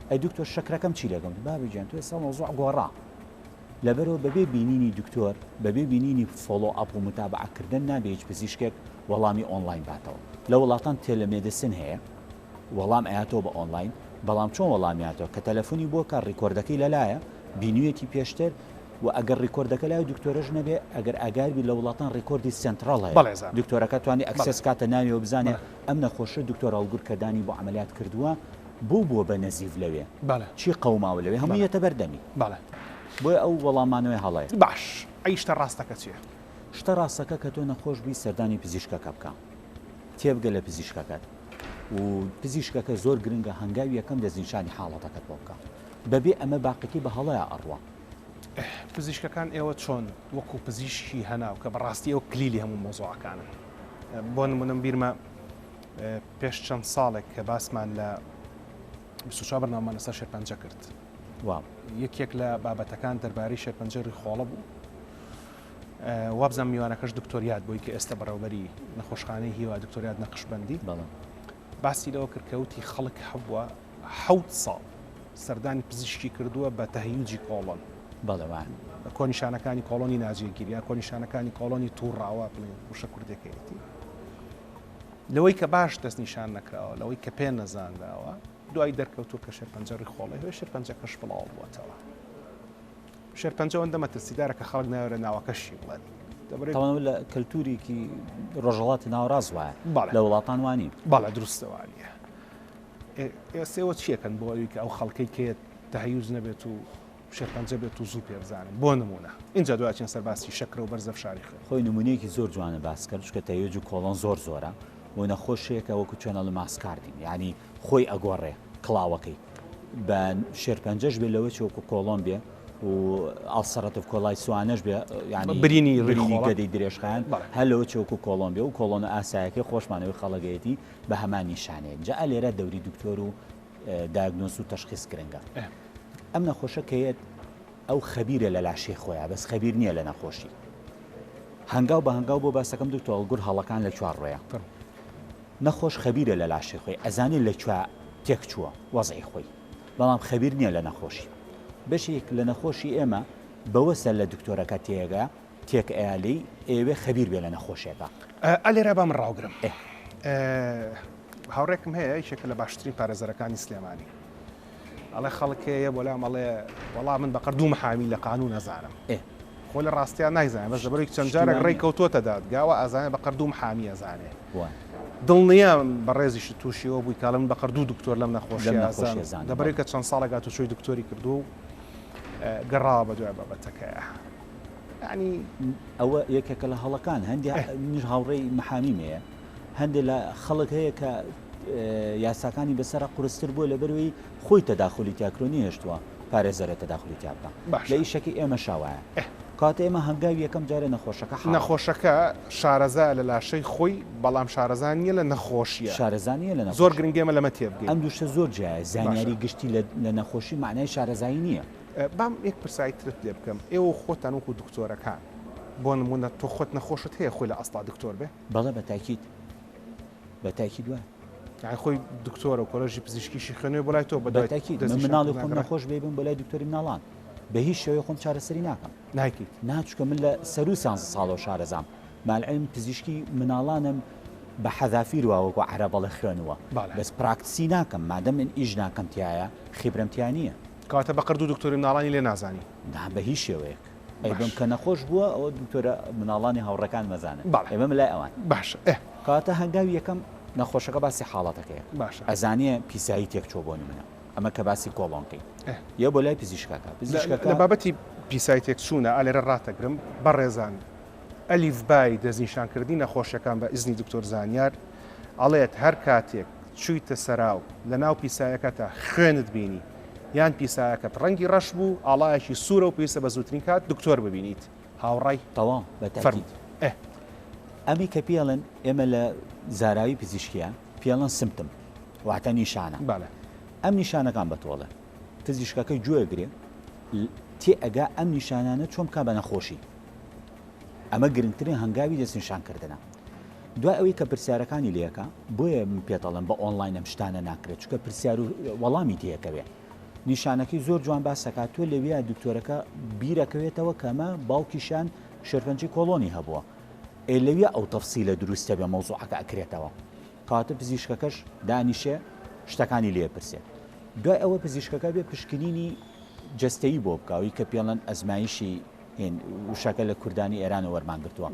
ئەی دکتۆر شەکرەکەم چی لەگەڵ بابیجان توێ سا مەوزوع گۆڕا لەبەرەوە بەبێ بینینی دکتۆر بەبێ بینینی فۆڵۆ ئەپ و متابعکردن نابێت پزیشکێک وەڵامی ئۆنلاین باتەوە لە وڵاتان تێلەمێدسن هەیە وەڵام ئەیاتەوە بە ئۆنڵاین بەڵام چۆن وەڵامیاتەوە کە تەلەفونی بۆ کە ڕیکۆردەکەی لەلایە بینویەتی پێشتر و ئەگەر ڕیکۆردەکە لای دکتۆرەش نەبێ ئەگەر ئاگاربی لە وڵاتان ڕیکۆردی سنتڕاڵ هەیە دکتۆرەکە توانی ئەکسس کاتە ناویەوە بزانێ ئەم نەخۆشە دکتۆر هەڵگر کەدانی بۆ عملیات کردووە بۆ بووە بە نەزیف لەوێ چی قەوماوە لەوێ هەموویەتە بەردەمی بۆیە ئەو وەڵامانەوەی هەڵەیە باش ئەی شتە ڕاستەکە چیە؟ شتە ڕاستەکە کە تۆ نەخۆش بی سەردانی پزیشکەکە بکە تێبگە لە پزیشکەکەت و پزیشکەکە زۆر گرنگە هەنگاوی یەکەم دەستنیشانی حاڵەتەکەت بۆ بکا بەبێ ئەمە باقیەکەی بە هەڵەیا ئەڕوا. پزیشکەکان ئێوە چۆن وەکو پزیشکی هەناو کە بەڕاستی ئێوە کلیلی هەموو مەوزوعەکانن بۆ نمونەم بیرمە پێش چەند ساڵێک کە باسمان لە بسوچا بەرنامەمان لەسەر شێرپەنجە کرد یەکێک لە بابەتەکان دەربارەی شێرپەنجەری خۆڵە بوو وابزانم میوانەکەش دکتۆر یاد بووی کە ئێستا بەڕێوبەری نەخۆشخانەی هیوا دکتۆر یاد نەقشبەندی باسی لەوە کرد کە وتی خەڵک هەبووە حەوت ساڵ سەردانی پزیشکی کردووە بە تەهیوجی کۆڵۆن بەڵێوان کۆنیشانەکانی کۆڵۆنی ناجێگیریا کۆنیشانەکانی کۆڵۆنی تووڕاوە بڵێن وشە کوردەکەیەتی لەوەی کە باش دەست نیشان نەکراوە لەوەی کە پێ نەزانراوە دوای دەرکەوتو کە شێرپەنجەڕی خۆڵی هۆی شێرپەنجەکەش بڵاو بووەتەوە شێرپەنجە ئەوەندە مەترسیدارە کە خەڵک ناوێرە ناوەکەشی بڵێت. تەوانەوە لە کەلتوریکی ڕۆژەڵاتی ناوەڕاست وایە لە وڵاتان وانی باڵە دروستەوانە ئێستێەوە چیەکەن بۆ ئەوی کە ئەو خەڵکەی کێت تەهیوز نەبێت و شێرپەنجە بێت و زوو پێ بزانن بۆ نمونە اینجا دوچین سەرباسی شەکرە و بەرزە شاری خوێن خۆی نمونەیەکی زۆر جوانە باسکە چکە تەوێج و کۆڵۆن زۆر زۆرە و نەخۆشێکە وەکو چۆنە لە ماسکاردین ینی خۆی ئەگۆڕێ کڵاوەکەی بە شێرپەنجەش بێ لەوەی چۆکو کۆڵۆم بێ و ئاڵسەرەتف کۆلای سوانەش بێ ینی برینی ڕینی گەدەی درێژخان هەلەوە چۆک و کۆڵۆم بێ و کۆڵۆنە ئاسایەکەی خۆشمانەوەی خەڵگەیەتی بە هەمان نیشانەیە جا لێرە دەوری دکتۆر و داگنۆس و تەشخیز گرنگە ئەم نەخۆشە کەیەت ئەو خەبیرە لە لاشی خۆیان بەس خەبیر نییە لە نەخۆشی هەنگاو بە هەنگاو بۆ باسەکەم دکتۆڵ گور هەڵەکان لە چوار ڕۆیە نەخۆش خەبیرە لە لاشەی خۆی ئەزانێت لە کوێ تێک چووە وەزعی خۆی بەڵام خەبیر نیە لە نەخۆشی بەشێک لە نەخۆشی ئێمە بەوە سەر لە دکتۆرەکە تێگە تێک ئەیا لێی ئەیەوێ خەبیر بێ لە نەخۆشێکە. ئا لێرە با من ڕاوگرم. ئێ. هاوڕێکم هەیە یەکێکە لە باشترین پارێزەرەکانی سلێمانی. ئەڵێ خەڵک هەیە بۆ لام ئەڵێ وەڵا من بەقەر دوو محامی لە قانون ئەزانم خۆ لە ڕاستیان نایزانێ بەس لەبەرێک چەند جارێک ڕێی کەوتووەتە دادگاوە ئازانێ بەقەر دوو محامی ئەزانێ دڵنییا بەڕێزیش تووشیەوە بووی کاڵم بەقەر دوو دکتۆر لەم نەخۆشی ئازان دەبرێکە چەند ساڵێکات و چۆی دکتۆری کردو و گەڕاوە بە دوای بابەتەکەیە. ینی ئەوە یەکێکە لە هەڵەکان هەندێک منیش هاوڕێی محامی مەیە هەندێک لە خەڵک هەیە کە یاساکانی بەسرە قرستر بووە لە بەروی خۆی تەداخلی تاکرۆنی هێشتووە پارێزەرە تەداخلی تیا بکە لە ئیشەکە ئێمە شاوایە کاتە ئێمە هەنگاوی یەکەم جارە نەخۆشەکە نەخۆشەکە شارەزا لە لاشەی خۆی بەڵام شارەزان نیە لە نەخۆشیە شارەزانیە لە زۆر گرنگێمە لەمە تێبگەین ئەم دوشتە زۆر جیایە زانیاری گشتی لە نەخۆشی معنای شارەزایی نییە بام یەک پرسایی ترت لێ بکەم ئێوە خۆتان وەکو دکتۆرەکان بۆ نمونە تۆ خۆت نەخۆشت هەیە خۆی لە ئەستا دکتۆر بێ بەڵێ بە تاکید بە تاکید وایە. یان خۆی دکتۆرە و کۆلژی پزیشکیشی خوێنێ بۆ لای تۆ بە تاکید مناڵی خۆم نەخۆش بێ بم بۆ لای دکتۆری مناڵان بە هیچ شێوەی خۆم چارەسەری ناکەم ناکیت ناچکە من لە سەرو سانز ساڵە شارەزام مالعلم پزیشکی مناڵانم بە حەذافیر واوەکو عرە بەڵێ خوێنوە بەس پراکتسی ناکەم مادە من ئیش ناکەم تایە خیبرەمتیا نییە کاتە بەقەر دوو دکتۆری مناڵانی لێ نازانی نا بە هیچ شێوەیەک ئەی بم کە نەخۆش بووە ئەوە دکتۆرە مناڵانی هاوڕێکان مەزانن ئێمە لای ئەوان باش کاتە هەنگاوی یەکەم نەخۆشەکە باسی حاڵەتەکەی باش ئەزانێ پیسایی تێک چۆ بۆنی منە ئەمە کە باسی کۆڵۆنکەی یە بۆ لای پزیشکەکە پزیشکەکە بابەتی پیسای تێک چوونە ئالێرە ڕاتەگرم بەڕێزان ئەلیف بای دەستنیشانکردنی نەخۆشیەکان بە ئیزنی دکتۆر زانیار ئەڵێت هەر کاتێک چوویتە سەراو لە ناو پیسایەکەتە خوێنت بینی یان پیسایەکەت ڕەنگی ڕەش بوو ئاڵایەکی سوورە و پێویستە بە زووترین کات دکتۆر ببینیت هاوڕای تەواو بە تاکید فەرموو. ئەمی کە پێڵێن ئێمە لە زاراوی پزیشکیە پێڵەن سمتم واتە نیشانە بالە ئەم نیشانەکان بەتۆڵە پزیشکەکە گوێ گرێ تێ ئەگا ئەم نیشانانە چۆن بکا بە نەخۆشی ئەمە گرنگترین هەنگاوی دەستنیشانکردنە دوای ئەوەی کە پرسیارەکانی لەکە بۆیە من پێتەڵم بە ئۆنلاین ئەم شتانە ناکرێت چکە پرسیار و وەڵامی تێکەوێت نیشانەکەی زۆر جوان باسەکات تۆ لەویا دکتۆرەکە بیرەکەوێتەوە کەمە باوکیشان شێرپەنجی کۆڵۆنی هەبووە ئێ لەویا ئەو تەفسی لە دروستە بێ مەوزوعەکە ئەکرێتەوە کاتە پزیشکەکەش دانیشێ شتەکانی لێ پرسێت دوای ئەوە پزیشکەکە بێ پشکنینی جستەی بۆ بکەوی کە پێڵەن ئەزمایشی وشەکە لە کوردانی ئێرانە وەرمانگرتووە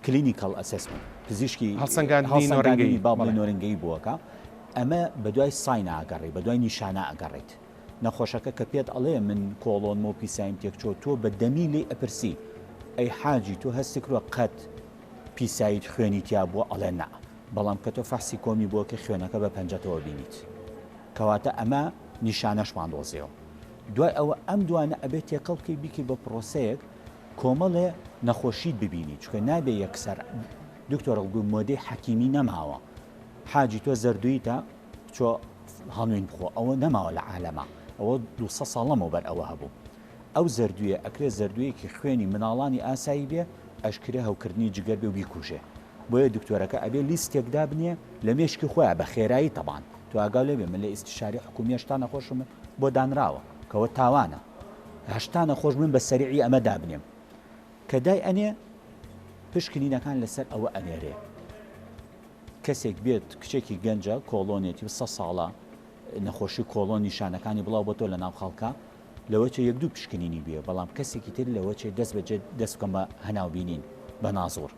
Clinical Assessment، پزیشکی هەڵسەنگاندنی باڵی نۆرنگەیی بووەکە، ئەمە بەدوای ساین ئەگەڕێی، بەدوای نیشانە ئەگەڕێیت، نەخۆشەکە کە پێت ئەڵێ من کۆڵۆنم و پیسایم تێکچووە، تۆ بە دەمی لێی ئەپرسی، ئەی حاجی تۆ هەستت کردووە قەت پیسایت خوێنی تیا بووە؟ ئەڵێ نا، بەڵام کە تۆ فەحسی کۆمی بووەکەی خوێنەکە بە پەنجەتەوە بینیت، کەواتە ئەمە نیشانەشمان دۆزیەوە، دوای ئەوە ئەم دوانە ئەبێت تێکەڵ بکەی بیکەی بە پرۆسەیەک، کۆمەڵێ نەخۆشیت ببینی چکە نابێ یەکسەر دکتۆرەڵگوی مۆدەی حەکیمی نەماوە حاجی تۆ زەردویتە چۆ هەڵوین بخۆ ئەوە نەماوە لە عالەما ئەوە دو ساڵەمەوە بەر ئەوە هەبوو ئەو زەردویە ئەکرێ زەردویەکی خوێنی مناڵانی ئاسایی بێ ئەشکرێ هەوکردنی جگەر بێ و بیکوژێ بۆیە دکتۆرەکە ئەبێ لیستێک دابنێ لە مێشکی خۆیان بە خێرایی تەبان تو ئاگاو لێبێ من لە ئیستیشاری حکومیەش تا نەخۆشم بۆ دانراوە کەوە تاوانە هەشتا نەخۆش من بە سەریعی ئەمە دابنێم کە دای ئەنێ پشکنینەکان لەسەر ئەوە ئەنێرێ کەسێک بێت کچێکی گەنجە کۆڵۆنێتی سە ساڵە نەخۆشی کۆڵۆن نیشانەکانی بڵاو بۆ تۆ لە ناو خەڵکە لەوە چێ یەک دوو پشکنینی بێ بەڵام کەسێکی تر لەوە چێ دەست بەجێ دەست بکەم بە هەناوبینین بە نازۆر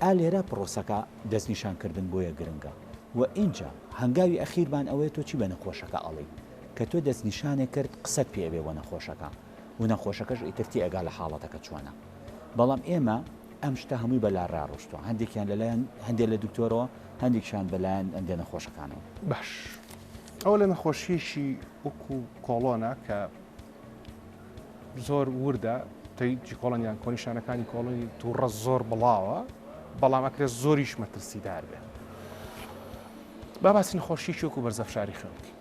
ئا لێرە پرۆسەکە دەستنیشانکردن بۆیە گرنگە و ئینجا هەنگاوی ئەخیربان ئەوەیە تۆ چی بە نەخۆشەکە ئەڵێیت کە تۆ دەست نیشانێک کرد قسەت پێ ئەبێ بۆ نەخۆشەکە و نەخۆشەکەش ئیتر تێئەگا لە حاڵەتەکە چۆنە بەڵام ئێمە ئەم شتە هەمووی بە لا را ڕۆشتوە هەندێکیان لەلایەن هەندێک لە دکتۆرەوە هەندێکشان بەلایەن ئەندێ نەخۆشەکانەوە. باش ئەوە لە نەخۆشیەکی وەکو کۆڵۆنە کە زۆر وردە تەیکی کۆڵنیان کۆنیشانەکانی کۆڵنی تووڕە زۆر بڵاوە بەڵام ئەکرێت زۆریش مەترسیدار بێت با باسی نەخۆشیەکی وەکو بەرزەفشاری خوێن بکەین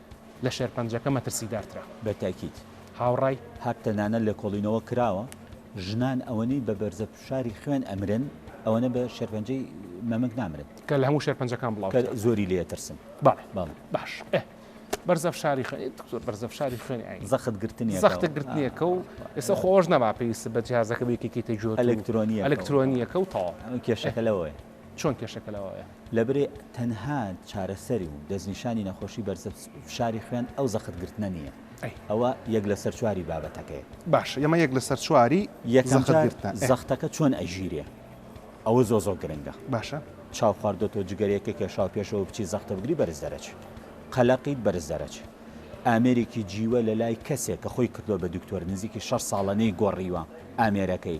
لە شێرپەنجەکە مەترسیدارترە. بە تاکید. هاوڕای. هاپ تەنانەت لێکۆڵینەوە کراوە ژنان ئەوەنەی بە بەرزە فشاری خوێن ئەمرن ئەوەنە بە شێرپەنجەی مەمک نامرن. کە لە هەموو شێرپەنجەکان بڵاو ترە. کە زۆری لێ ئەترسن. بەڵێ. بەڵێ. باش. ئێ. بەرزە فشاری خوێن. ئێ دکتۆر بەرزە فشاری خوێن ئەی. زەخت گرتنێکە. زەخت گرتنێکە و ئێستا خۆ ئەوەش نەما پێویستە بە جیهازەکە بێ یەکێکێتە جۆر. ئەلکترۆنییەکە. ئەلکترۆنییەکە و تەواو. ئەو کێشەکە لەوەیە. چۆن کێشەکە لەوەیە؟ لەبری تەنها چارەسەری و دەستنیشانی نەخۆشی بەرزە فشاری خوێن ئەو زەخت گرتنە نییە. ئەوە یەک لەسەر چواری بابەتەکەیە. باشە ئێمە یەک لەسەر چواری زەخت گرتنە. زەختەکە چۆن ئەگیرێ ئەوە زۆر زۆر گرنگە. باشە چاو خواردۆتەوە جگەرەیەکە کێشاوە پێشەوە بچی زەختە بگری بەرز دەرەچی. قەلەقیت بەرز دەرەچی. ئامێرێکی جیوە لەلای کەسێک کە خۆی کردووە بە دکتۆر نزیکی شەش ساڵە نەیگۆڕیوە ئامێرەکەی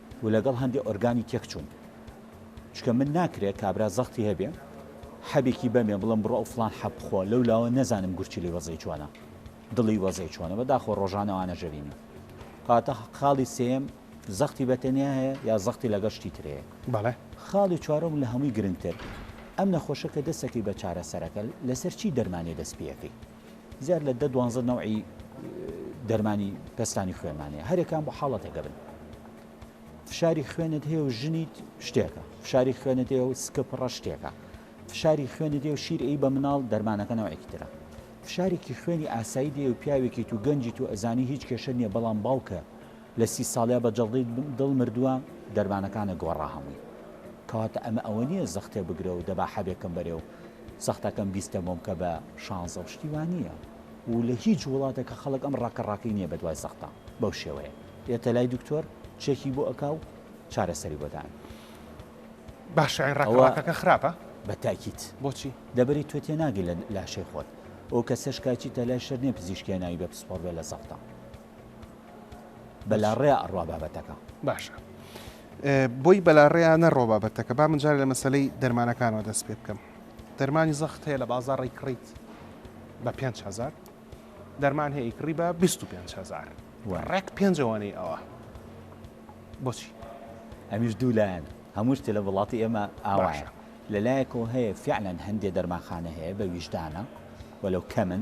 و لەگەڵ هەندێ ئۆرگانی تێکچووم چونکە من ناکرێ کابرا زەختی هەبێ حەبێکی بەمێ بڵم بڕۆ ئەو فلان حەب بخۆ لەو لاوە نەزانم گورچیلی وەزەی چۆنە دڵی وەزەی چۆنە بە داخۆ ڕۆژانەوانە ژەرینی کاتە خاڵی سێم زەختی بەتەنیا هەیە یا زەختی لەگەڵ شتی ترەیە بەڵێ خاڵی چوارم لە هەمووی گرنگتر ئەم نەخۆشە کە دەسەکەی بە چارەسەرەکە لەسەر چی دەرمانی دەست پێەکەی زیاد لە دە دوانزە نەوعی دەرمانی پەستانی خوێنمان هەیە هەرێکان بۆ حاڵەتێک دەبن فشاری خوێنت هەیە و ژنیت شتێکە فشاری خوێنت هەیە و سکە پڕە شتێکە فشاری خوێنت هەیە و شیر ئی بە مناڵ دەرمانەکە نەوەێکی ترە فشارێکی خوێنی ئاسایی دێ و پیاوێکی تو گەنجی تو ئەزانی هیچ کێشە نییە بەڵام باوکە لە سی ساڵیا بە جەڵدەی دڵ مردوە دەرمانەکانە گۆڕا هەمووی کەواتە ئەمە ئەوە نیە زەختێ بگرەو دەبا حەبێکەم بەرێ و زەختەکەم بیستە بۆم کە بە شانزە و شتی وا نیە و لە هیچ وڵاتەکە خەڵک ئەم ڕاکە ڕاکەی نیە بە دوای زەختە بەو شێوەیە یەتە لای دکتۆر چێکی بۆ ئەکا و چارەسەری بۆ دان باشە ئەی ڕاکە ڕاکەکە خراپە؟ بە تاکید بۆچی؟ دەبەری تۆ تێ ناگەی لە لاشەی خۆت ئەو کەسەش کە ئەچیتە لای شەر نیە پزیشکیە ناوی بە پسپۆڕ بێ لە زەختە. بەلاڕێیا ئەڕوا بابەتەکە. باشە بۆی بەلاڕێیا نەڕۆ بابەتەکە با من جارێ لە مەسەلەی دەرمانەکانەوە دەست پێ بکەم دەرمانی زەخت هەیە لە بازار ڕیکڕیت بە 5هزار دەرمان هەیە کڕی بە 25هزار ڕێک پێنجەوەنەی ئەوە بۆچی ئەمیش دوو لایەن هەموو شتێ لە وڵاتی ئێمە ئاوایە لەلایەکەوە هەیە فعلەن هەندێ دەرماخانە هەیە بە ویژدانە وەلو کەمن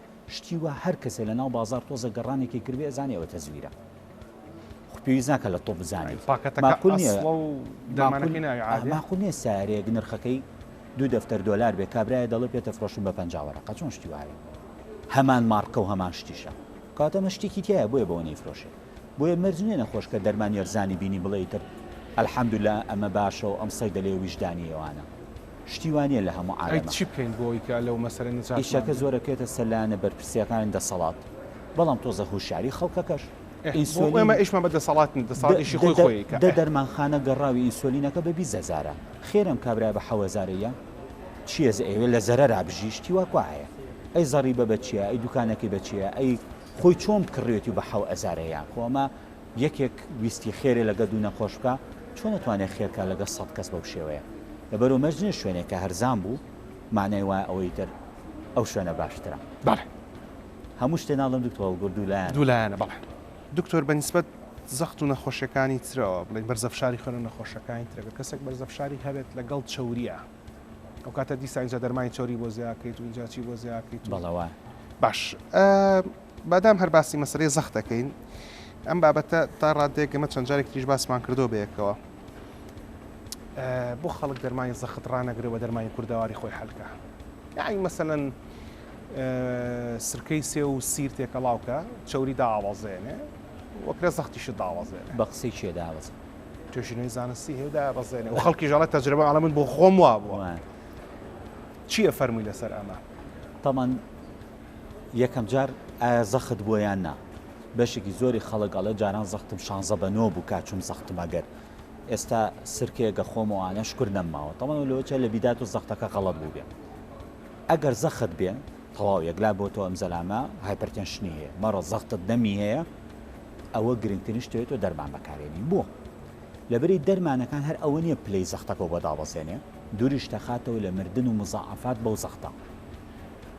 شتی وا هەر کەسێ لە ناو بازاڕ تۆزێک گەڕانێکی کردبێ ئەزانێ ئەوە تەزویرە خۆ پێویست ناکا لە تۆ بزانێ ماقول نیە ماقول نیە سارێک نرخەکەی دوو دەفتەر دۆلار بێ کابرایە دەڵێ پێ تەفرۆشم بە پەنجا وەرەقە چۆن شتی وایە هەمان مارکە و هەمان شتیشە کاتەمە شتێکی تایە بۆیە بەوە نەیفرۆشێ بۆیە مەرج نیە نەخۆش کە دەرمان یەرزانی بینی بڵێ تر الحمدلله ئەمە باشە و ئەم سەیدە لێ ویژدانی ئێوانە شتی وا نیە لە هەموو ئەی عالەمە. چی بکەین بۆ ئەوەی کە لەو مەسەلە نەجاتمان ئیشەکە بێ؟ زۆر ئەکەوێتە سەر لایەنە بەرپرسییەکانی دەسەڵات، بەڵام تۆزێ هوشیاری خەڵکەکەش. ئێ بۆ ئێمە ئینسۆلین ئیشمان بە دەسەڵات نیە، دە دەسەڵات ئیشی خۆی دە خۆیی کە دە ئێ. دەرمانخانە گەڕاوی ئینسۆلینەکە بە بیست هەزارە، خێر ئەم کابرایە بە حەو هەزارە یە؟ چیە زە ئەیەوێ لە زەرەرا بژی شتی وا کوا هەیە؟ ئەی زەڕیبە بە چیە؟ ئەی دوکانەکەی بە چیە؟ ئەی خۆی چۆن کڕیوێتی و بە حەو هەزارە یە؟ خۆ ئەمە یەکێک ویستی خێرێ لەگە دوو نەخۆش بکا چۆن ئەتوانێ خێرکا لەگە سەد کەس بەو شێوەیە لەبەرو مەرج نیە شوێنێک کە هەرزان بوو مەعنای وایە ئەوەی تر ئەو شوێنە باشترە. بەڵێ. هەموو شتێ ناڵێم دکتۆر بەڵکو دوو لایەنە. دوو لایەنە بەڵێ. دکتۆر بە نیسبەت زەخت و نەخۆشیەکانی ترەوە بڵێین بەرزە فشاری خوێن و نەخۆشەکانی تر گەر کەسێک بەرزە فشاری هەبێت لەگەڵ چەوریە ئەو کاتە دیسان ئینجا دەرمانی چەوری بۆ زیاکەیت و ئینجا چی بۆ زیاکەیت و. بەڵێ وایە. باش ئە مادام هەر باسی مەسەلەی زەخت ئەکەین ئەم بابەتە تا ڕاددەیەک ئێمە چەند جارێکی تریش باسمان کردووە بەیەکەوە بۆ خەڵک دەرمانی زەخت ڕانەگرێ بە دەرمانی کوردەواری خۆی حەلکە یعنی مەسەەن سرکەی سێ و سیر تێکەڵاوکە چوری داوازێنێ وەکرە زەختیشت داوازێ بە قسەی چێ داوازە توێژینەوەی زانستی هێدا بەزێنێ و خەڵکی ژەڵە تەجربە ئەڵە من بۆ خۆم وا بووە چییە فەرمووی لەسەر ئەمە تامان یەکەم جار ئایا زەخت بووە یان نا بەشێکی زۆری خەڵک ئەڵێ جاران زەختم شانزە بە نۆ بوو کاچوم زەختم ئەگەر ئێستا سرکەیەکە خۆم و ئانە شکر نەمماوە تەڵەوە لەوەچە لە بیدات و زەختەکە غەڵت بوو بێ ئەگەر زەخت بێ تەواو یەکلا بۆ تۆ ئەم زەلامە هایپەرتەنشنی هەیە مەڕە زەختت دەمی هەیە ئەوە گرنگترین شتێت و دەرمان بەکارێنی بووە لەبری دەرمانەکان هەر ئەوە نیە پلەی زەختەکە بۆ دابەزێنێ دووریش دەخاتەوە لە مردن و مزەعافات بەو زەختە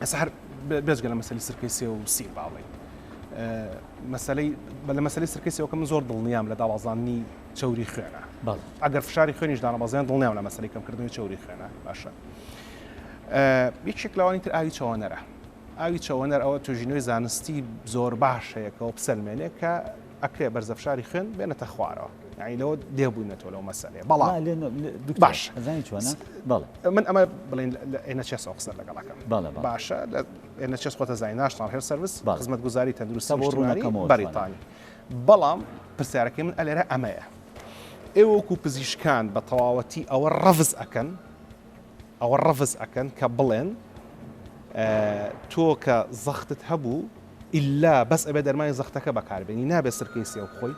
ئەس هەر بێجگە لە مەسەلی سرکەی سێ و سی باڵێ مەسلەی بە لە مەسلی سرکەی سێوکەم زۆر دڵنیام لە داوازاننی چوری خوێنە ئەگەر فشاری خوێنیش دانەبازیان دڵنیام لە مەسلی کەمکردنی چوری خوێنە باشە یەکێک لەوانی تر ئاوی چەوەنەرە ئاوی چەوەنەر ئەوە توژینەوەی زانستی زۆر باش هەیەکەوە بسەلمێنێ کە ئەکرێ بەرزە فشاری خوێن بێنێتە خوارەوە یعنی لەوە دێ بووینەتەوە لەو مەسەلەیە بەڵام لێ نۆ- لێ- دکتۆر، باش. ئەزانی چۆنە بەڵێ من ئەمە بڵێن لە ئێنەچێسەوە قسە لەگەڵەکەم بەڵێ، بەڵێ. باشە لە ئێنەچێس خۆتە زانین ناشناڵ هێڵ سەرویس بەڵێ. خزمەتگوزاری تەندروستی تا بۆ نیشتمانی ڕوونەکەمەوە بەریتانی بەڵام پرسیارەکەی من ئەلێرە ئەمەیە ئێوە وەکو پزیشکان بە تەواوەتی ئەوە ڕەفز ئەکەن ئەوە ڕەفز ئەکەن کە بڵێن تۆ کە زەختت هەبوو ئیلا بەس ئەبێ دەرمانی زەختەکە بەکاربێنی نابێ سرکەی سێو بخۆی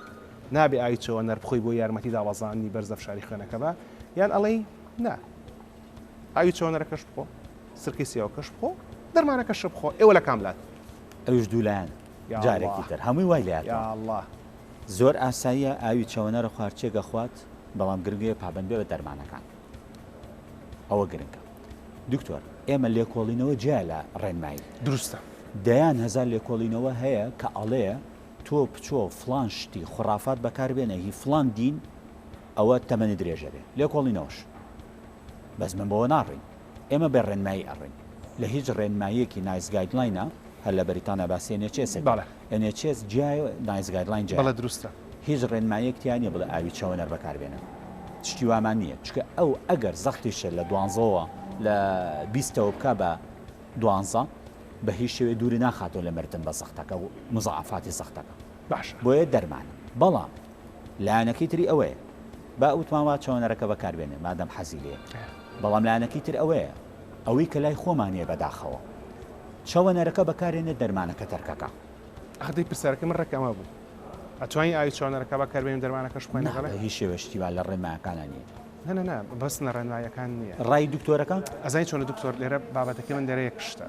نابێ ئاوی چەوەنەر بخۆی بۆ یارمەتی دابەزاندنی بەرز لە فشاری خوێنەکە بە یان ئەڵێی نا ئاوی چەوەنەرەکەش بخۆ سرکەی سێوەکەش بخۆ دەرمانەکەش بخۆ ئێوە لە کاملات ئەوش دوولایەن جارێکی تر هەمووی وای لە الله زۆر ئاساییە ئاوی چەوەنەرە خوارچێک گەخوات بەڵام گرنگەیە پابەندبێ بە دەرمانەکان. ئەوە گرنگە دکتۆر ئێمە لێکۆڵینەوە جیا لە ڕێنمایی دروستە دەیان هەزار لێکۆڵینەوە هەیە کە ئەڵێ تۆ پچۆ فلان شتی خڕافات بەکاربێنە هی فلان دین ئەوە تەمەنی درێژە بێ لێکۆڵینەوەش بەس من بەوە ناڕین ئێمە بێ ڕێنمایی ئەڕین لە هیچ ڕێنماییەکی نایس گایدلاینە هەر لە بەریتانە باسیێنێ چێسێت ئێن ئێچ ئێس جیایە و نایس گایدلاین جیایە. بەڵێ دروستە. هیچ ڕێنماییەک تیا نیە بڵێ ئاوی چەوەنەر بەکار بێنن. شتی وامان نیە. چونکە ئەو ئەگەر زەختیشە لە دوانزەوە لە بیستەوە بکا بە دوانزە بە هیچ شێوەیە دووری ناخاتەوە لە مردن بە زەختەکە و موزاعەفاتی زەختەکە. باشە. بۆیە دەرمانە. بەڵام لایەنەکەی تری ئەوەیە با وتمان وا چەوەنەرەکە بەکار بێنێ مادام حەزی لێیە. بەڵام لایەنەکەی تر ئەوەیە. ئەوەی کە لای خۆمان هەیە بەداخەوە. چەوە نەرەکە بەکارێنە دەرمانەکە تەرکەکە. ئاخ دەی پرسیارەکەی من ڕێک ئەمە بوو ئەتوانی ئاوی چەوە نەرەکە بەکار بێنی و دەرمانەکەش بخۆین لەگەڵێ؟ نا بە هیچ شێوەیەشکی وا لە ڕێنمایەکانا نیە. نا نا نا بەس نە ڕێنمایەکان نیە. ڕای دکتۆرەکە؟ ئەزانی چۆنە دکتۆر لێرە بابەتەکەی من لێرە یەک شتە.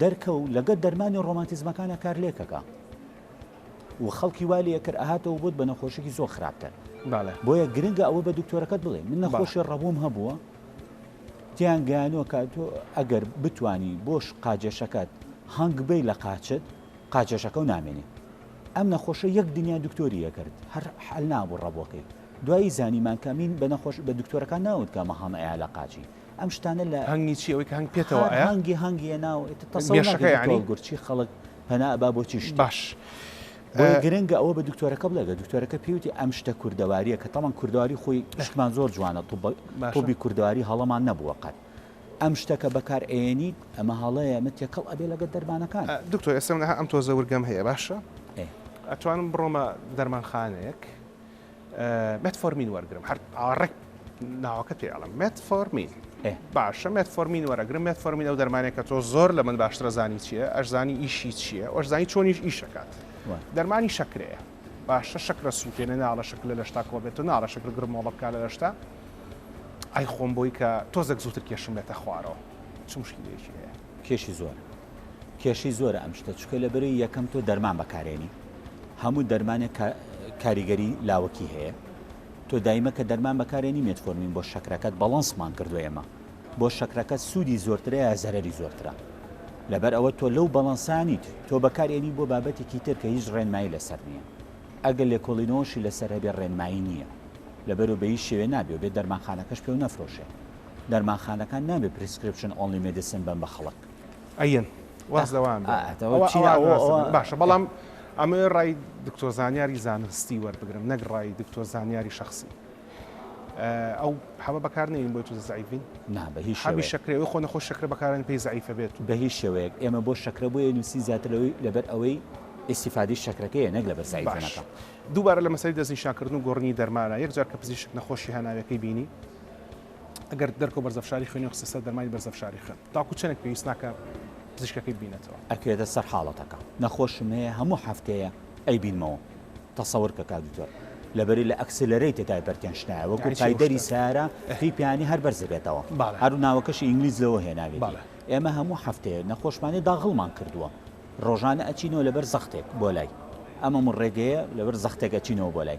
دەرکەو لەگەت دەرمانی ڕۆمانتیزمەکانا کار لێکەکا و خەڵکی وا لێکرد ئەهاتەوە بۆت بە نەخۆشێکی زۆر خراپتر بۆیە گرنگە ئەوە بە دکتۆرەکەت بڵێ من نەخۆشی ڕەبووم هەبووە تیان گەیانوە کە تۆ ئەگەر بتانی بۆش قاجەشەکەت هەنگ بی لە قاچت قاچەشەکە و نامێنێ ئەم نەخۆشە یەک دنیا دکتۆری یەکرد هەر حل نابوو ڕەبووەکەی دوایی زانیمان کەمین بە نەخۆش بە دکتۆرەکان ناوت کە مەهەمەیە لە قاچی ئەم شتانە لە هەنگی چی ئەوەی کە هەنگ پێتەوە ئایا هەنگی هەنگی ناو گەشەکە یعنی گورچی خەڵک پەنا با بۆ چی شت باش گرنگە ئەوە بە دکتۆرەکە بڵێگە دکتۆرەکە پێوتی ئەم شتە کوردەواریە کە تەمان کوردەواری خۆی شتمان زۆر جوانە طبی کوردەواری هەڵەمان نەبووە قەت ئەم شتەکە بەکار ئەێنیت ئەمە هەڵەیە ئەمە تێکەڵ ئەبێ لەگە دەرمانەکان دکتۆر ئێسم ئەم تۆ زەورگەم هەیە باشە ئەتوانم بڕۆمە دەرمانخانەیەک مێتفۆرمین وەرگرم هەر ئاڕێک ناوەکە پێ ئەڵم مێتفۆرمین باشە مێتفۆرمین وەرەگرم مێتفۆرمین ئەو دەرمانێک کە تۆ زۆر لە من باشترە زانی چییە ئەشزانی ئیشی چییە ئەشزانی چۆنیش ئیشەکات دەرمانی شەکرەیە باشە شەکرە سووتێنە ناڵە شکل لە لەشتا کۆ بێت و ناڵە شکر گرمۆڵە بکە لە لەشتا ئای خۆم بۆی کە تۆزێک زووتر کێشم بێتە خوارەوە چ مشکلێکی هەیە کێشی زۆرە کێشی زۆرە ئەم شتە چکە لە بەرەی یەکەم تۆ دەرمان بەکارێنی هەموو دەرمانێک کاریگەری لاوەکی هەیە تۆ دایمە کە دەرمان بەکارێنی مێتفۆرمین بۆ شەکرەکەت بەڵەنسمان کردو ئێمە بۆ شەکرەکە سوودی زۆرترە یا زەرری زۆرترە لەبەر ئەوە تۆ لەو بەڵەنسانیت تۆ بەکارێنی بۆ بابەتێکی تر کە هیچ ڕێنمایی لەسەر نییە ئەگەر لێکۆڵینەوەشی لەسەر هەبێ ڕێنمایی نییە لەبەرو بەی شێوێ نابێ بێ دەرمانخانەکەش پێ و نەفرۆشێ دەرمانخانەکان نابێ پریسکریپشن ئۆنلی مێدیسن بەن بە خەڵک. ئەیەن واز لەوان بێ. ئا ئەتەوە ئەوە چیە ئەوان ئەوە واز ئەوە دەبێ. باشە بەڵام ئەمەوێ ڕای دکتۆر زانیاری زانستی وەربگرم نەک ڕای دکتۆر زانیاری شەخسی. ئەو حەبە بەکار نێرین بۆی تووزە زەعیف بین؟ نا بە هیچ حەبی شێوەیەک. شەکرە ئەوی خۆ نەخۆش شەکرە بەکار دێنێ پێی زەعیفە بێت و. بە هیچ شێوەیەک ئێمە بۆ شەکرە بۆیە نووسین زیاتر لەوەی لەبەر ئەوەی ئیستیفادەی شەکرەکەیە نەک لەبەر زەعیف باش بوونەکە. دووبارە لە مەسەلەی دەستنیشانکردن و گۆڕینی دەرمانە یەک جار کە پزیشک نەخۆشی هەناویەکەی بینی، ئەگەر دەرکە و بەرزە فشاری خوێنی خستە سەر دەرمانی بەرزە فشاری خوێن تاکو چەنێک پێویست ناکە پزیشکەکەی بینێتەوە. ئەکرێتە سەر حاڵەتەکە. نەخۆشم هەیە هەموو هەفتەیە ئەیبینمەوە. تەسەور کە کاک دکتۆر. لەبەری لە ئەکسلەرەیتد هایپەرتێنشنایە وەکو پایدەری سارە پی پیانی هەر بەرز دەبێتەوە هەرو ناوەکەشی ئینگلیز لەوە هێناوێت ئێمە هەموو هەفتەیە نەخۆشمانی داغڵمان کردووە ڕۆژانە ئەچینەوە لەبەر زەختێک بۆ لای ئەمەم ڕێگەیە لەبەر زەختێک ئەچینەوە بۆ لای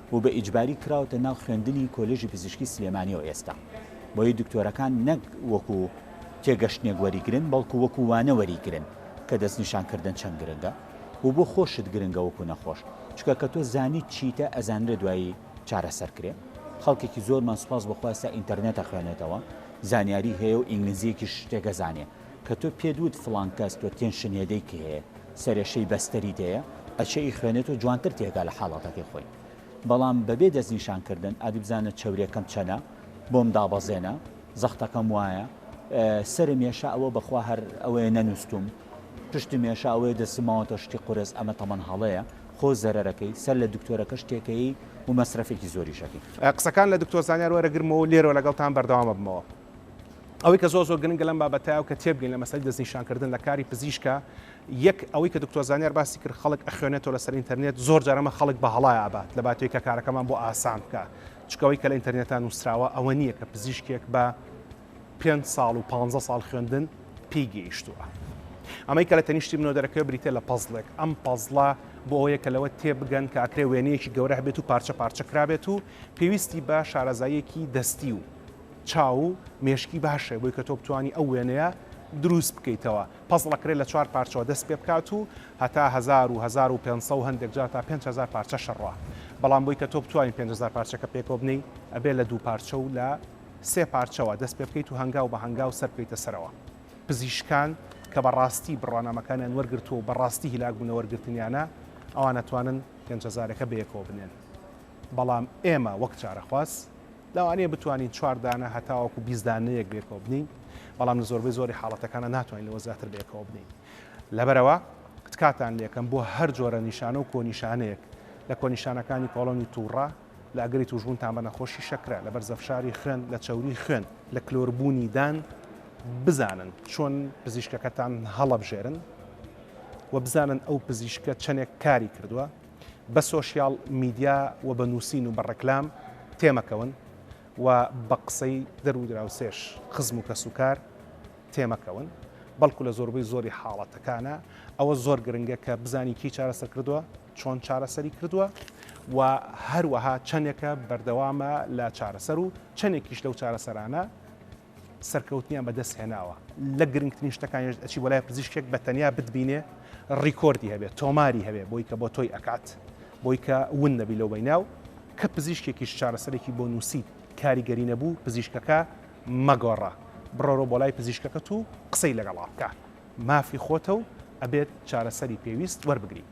و بە ئیجباری کراوەتە ناو خوێندنی کۆلێژی پزیشکی سلێمانیەوە ئێستا بۆیە دکتۆرەکان نەک وەکو تێگەشتنێک وەریگرن بەڵکو وەکو وانە وەریگرن کە دەستنیشان کردن چەند گرنگە و بۆ خۆشت گرنگە وەکو نەخۆش چکە کە تۆ زانیت چیتە ئەزانرێ دوایی چارەسەر کرێ خەڵکێکی زۆرمان سوپاس بەخواستا ئینتەرنێتە خوێنێتەوە زانیاری هەیە و ئینگلیزیەکیش شتێکە زانێ کە تۆ پێت وت فڵان کەس تۆ تێنشنێدەی کە هەیە سەرێشەی بەستەری دەیە ئەچێ ئی خوێنێت و جوانتر تێگا لە حاڵەتەکەی خۆی بەڵام بەبێ دەستنیشان کردن ئەدی بزانە چەورێکەم چەنە بۆم دابەزێنە زەختەکەم وایە سەرم یێشا ئەوە بەخوا هەر ئەوەیە نەنووستوم پشتم یێشا ئەوەیە دەستم ماوەتە شتی قورس ئەمە تەمان هەڵەیە خۆ زەرەرەکەی سەر لە دکتۆرەکەش تێکەیی و مەسرەفێکی زۆریشەکەی. قسەکان لە دکتۆر زانیار وەرەگرمەوە و لێرەوە لەگەڵتان بەردەوام ئەبمەوە. ئەوەی کە زۆر زۆر گرنگە لەم بابەتە و کە تێبگەین لە مەسەلەی دەستنیشانکردن لە کاری پزیشکە یەک ئەوەی کە دکتۆر زانیار باسی کرد خەڵک ئەخوێنێتەوە لەسەر ئینتەرنێت زۆر جار ئەمە خەڵک بە هەڵای ئابات لە باتێک کە کارەکەمان بۆ ئاسان بکە چکەوەی کە لە ئینتەرنێتان نووسراوە ئەوە نییە کە پزیشکێک بە پێ ساڵ و پ ساڵ خوێندن پێی گەیشتووە ئەمەی کە لە تەنیشتی منەوە دەرەکەوێ بریتە لە پەزڵێک ئەم پەزڵە بۆ ئەوەیە کە لەوە تێبگەن کە ئەکرێ وێنەیەکی گەورە بێت و پارچە پارچە کرابێت و پێویستی بە شارەزاییەکی دەستی و چاو و مێشکی باش هەیە بۆی کە تۆ بتوانی ئەو وێنەیە دروست بکەیتەوە. پەزڵ ئەکرێت لە چوار پارچەوە دەست پێ بکات و هەتا هەزار و هەزار و پێنج سەد و هەندێک جار تا پێنج هەزار پارچەش هەڕوا. بەڵام بۆی کە تۆ بتوانی پێنج هەزار پارچەکە پێکەوە بنێی ئەبێت لە دوو پارچە و لە سێ پارچەوە دەست پێ بکەیت و هەنگاو بە هەنگاو سەر بکەیتە سەرەوە. پزیشکان کە بە ڕاستی بڕوانامەکانیان وەرگرتووە و بە ڕاستی هیلاک بوونە وەرگرتنیانە ئەوان ئەتوانن پێنج هەزارەکە بەیەکەوە بنێن. بەڵام ئێمە وەک چارەخواز. لەوانەیە بتوانین چوار دانە هەتاوەکو بیست دانەیەک بەیەکەوە بنێین، بەڵام لە زۆربەی زۆری حاڵەتەکانە ناتوانین لەوە زیاتر بەیەکەوە بنێین. لەبەرئەوە تکاتان لێکەم بۆ هەر جۆرە نیشانە و کۆنیشانەیەک لە کۆنیشانەکانی کۆڵۆنی تووڕە، لە ئەگەری تووشبوونتان بە نەخۆشی شەکرە، لە بەرزەفشاری خوێن، لە چەوریی خوێن، لە کلۆربوونی دان بزانن چۆن پزیشکەکەتان هەڵەبژێرن و بزانن ئەو پزیشکە چەندێک کاری کردووە، بە سۆشیاڵ میدیا و بە نووسین و بە ڕێکلام تێمەکەون و بە قسەی درو دراوسێش خزم و کەسوکار تێمەکەون بەڵکو لە زۆربەی زۆری حاڵەتەکانە ئەوە زۆر گرنگە کە بزانی کی چارەسەر کردووە چۆن چارەسەری کردووە و هەروەها چەندێکە بەردەوامە لە چارەسەر و چەندێکیش لەو چارەسەرانە سەرکەوتنیان بەدەست هێناوە لە گرنگترین شتەکانیش ئەچی بۆ لای پزیشکێک بە تەنیا بتبینێ ڕیکۆردی هەبێ تۆماری هەبێ بۆی کە بۆ تۆی ئەکات بۆی کە ون نەبی لەو بیناو کە پزیشکێکیش چارەسەرێکی بۆ نووسیت کاریگەری نەبوو پزیشکەکە مەگۆڕە بڕۆرۆ بۆ لای پزیشکەکەت و قسەی لەگەڵا بکە مافی خۆتە و ئەبێت چارەسەری پێویست وەربگری.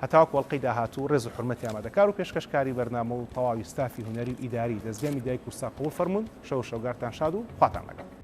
هەتاوەکو ئەڵقەی داهاتوو ڕێز و حورمەتی ئامادەکار و پێشکەشکاری بەرنامە و تەواوی ستافی هونەری و ئیداری دەزگای میدیای کوردستان قبوڵ فەرموون، شەو و شەوگارتان شاد و خواتان لەگەڵ.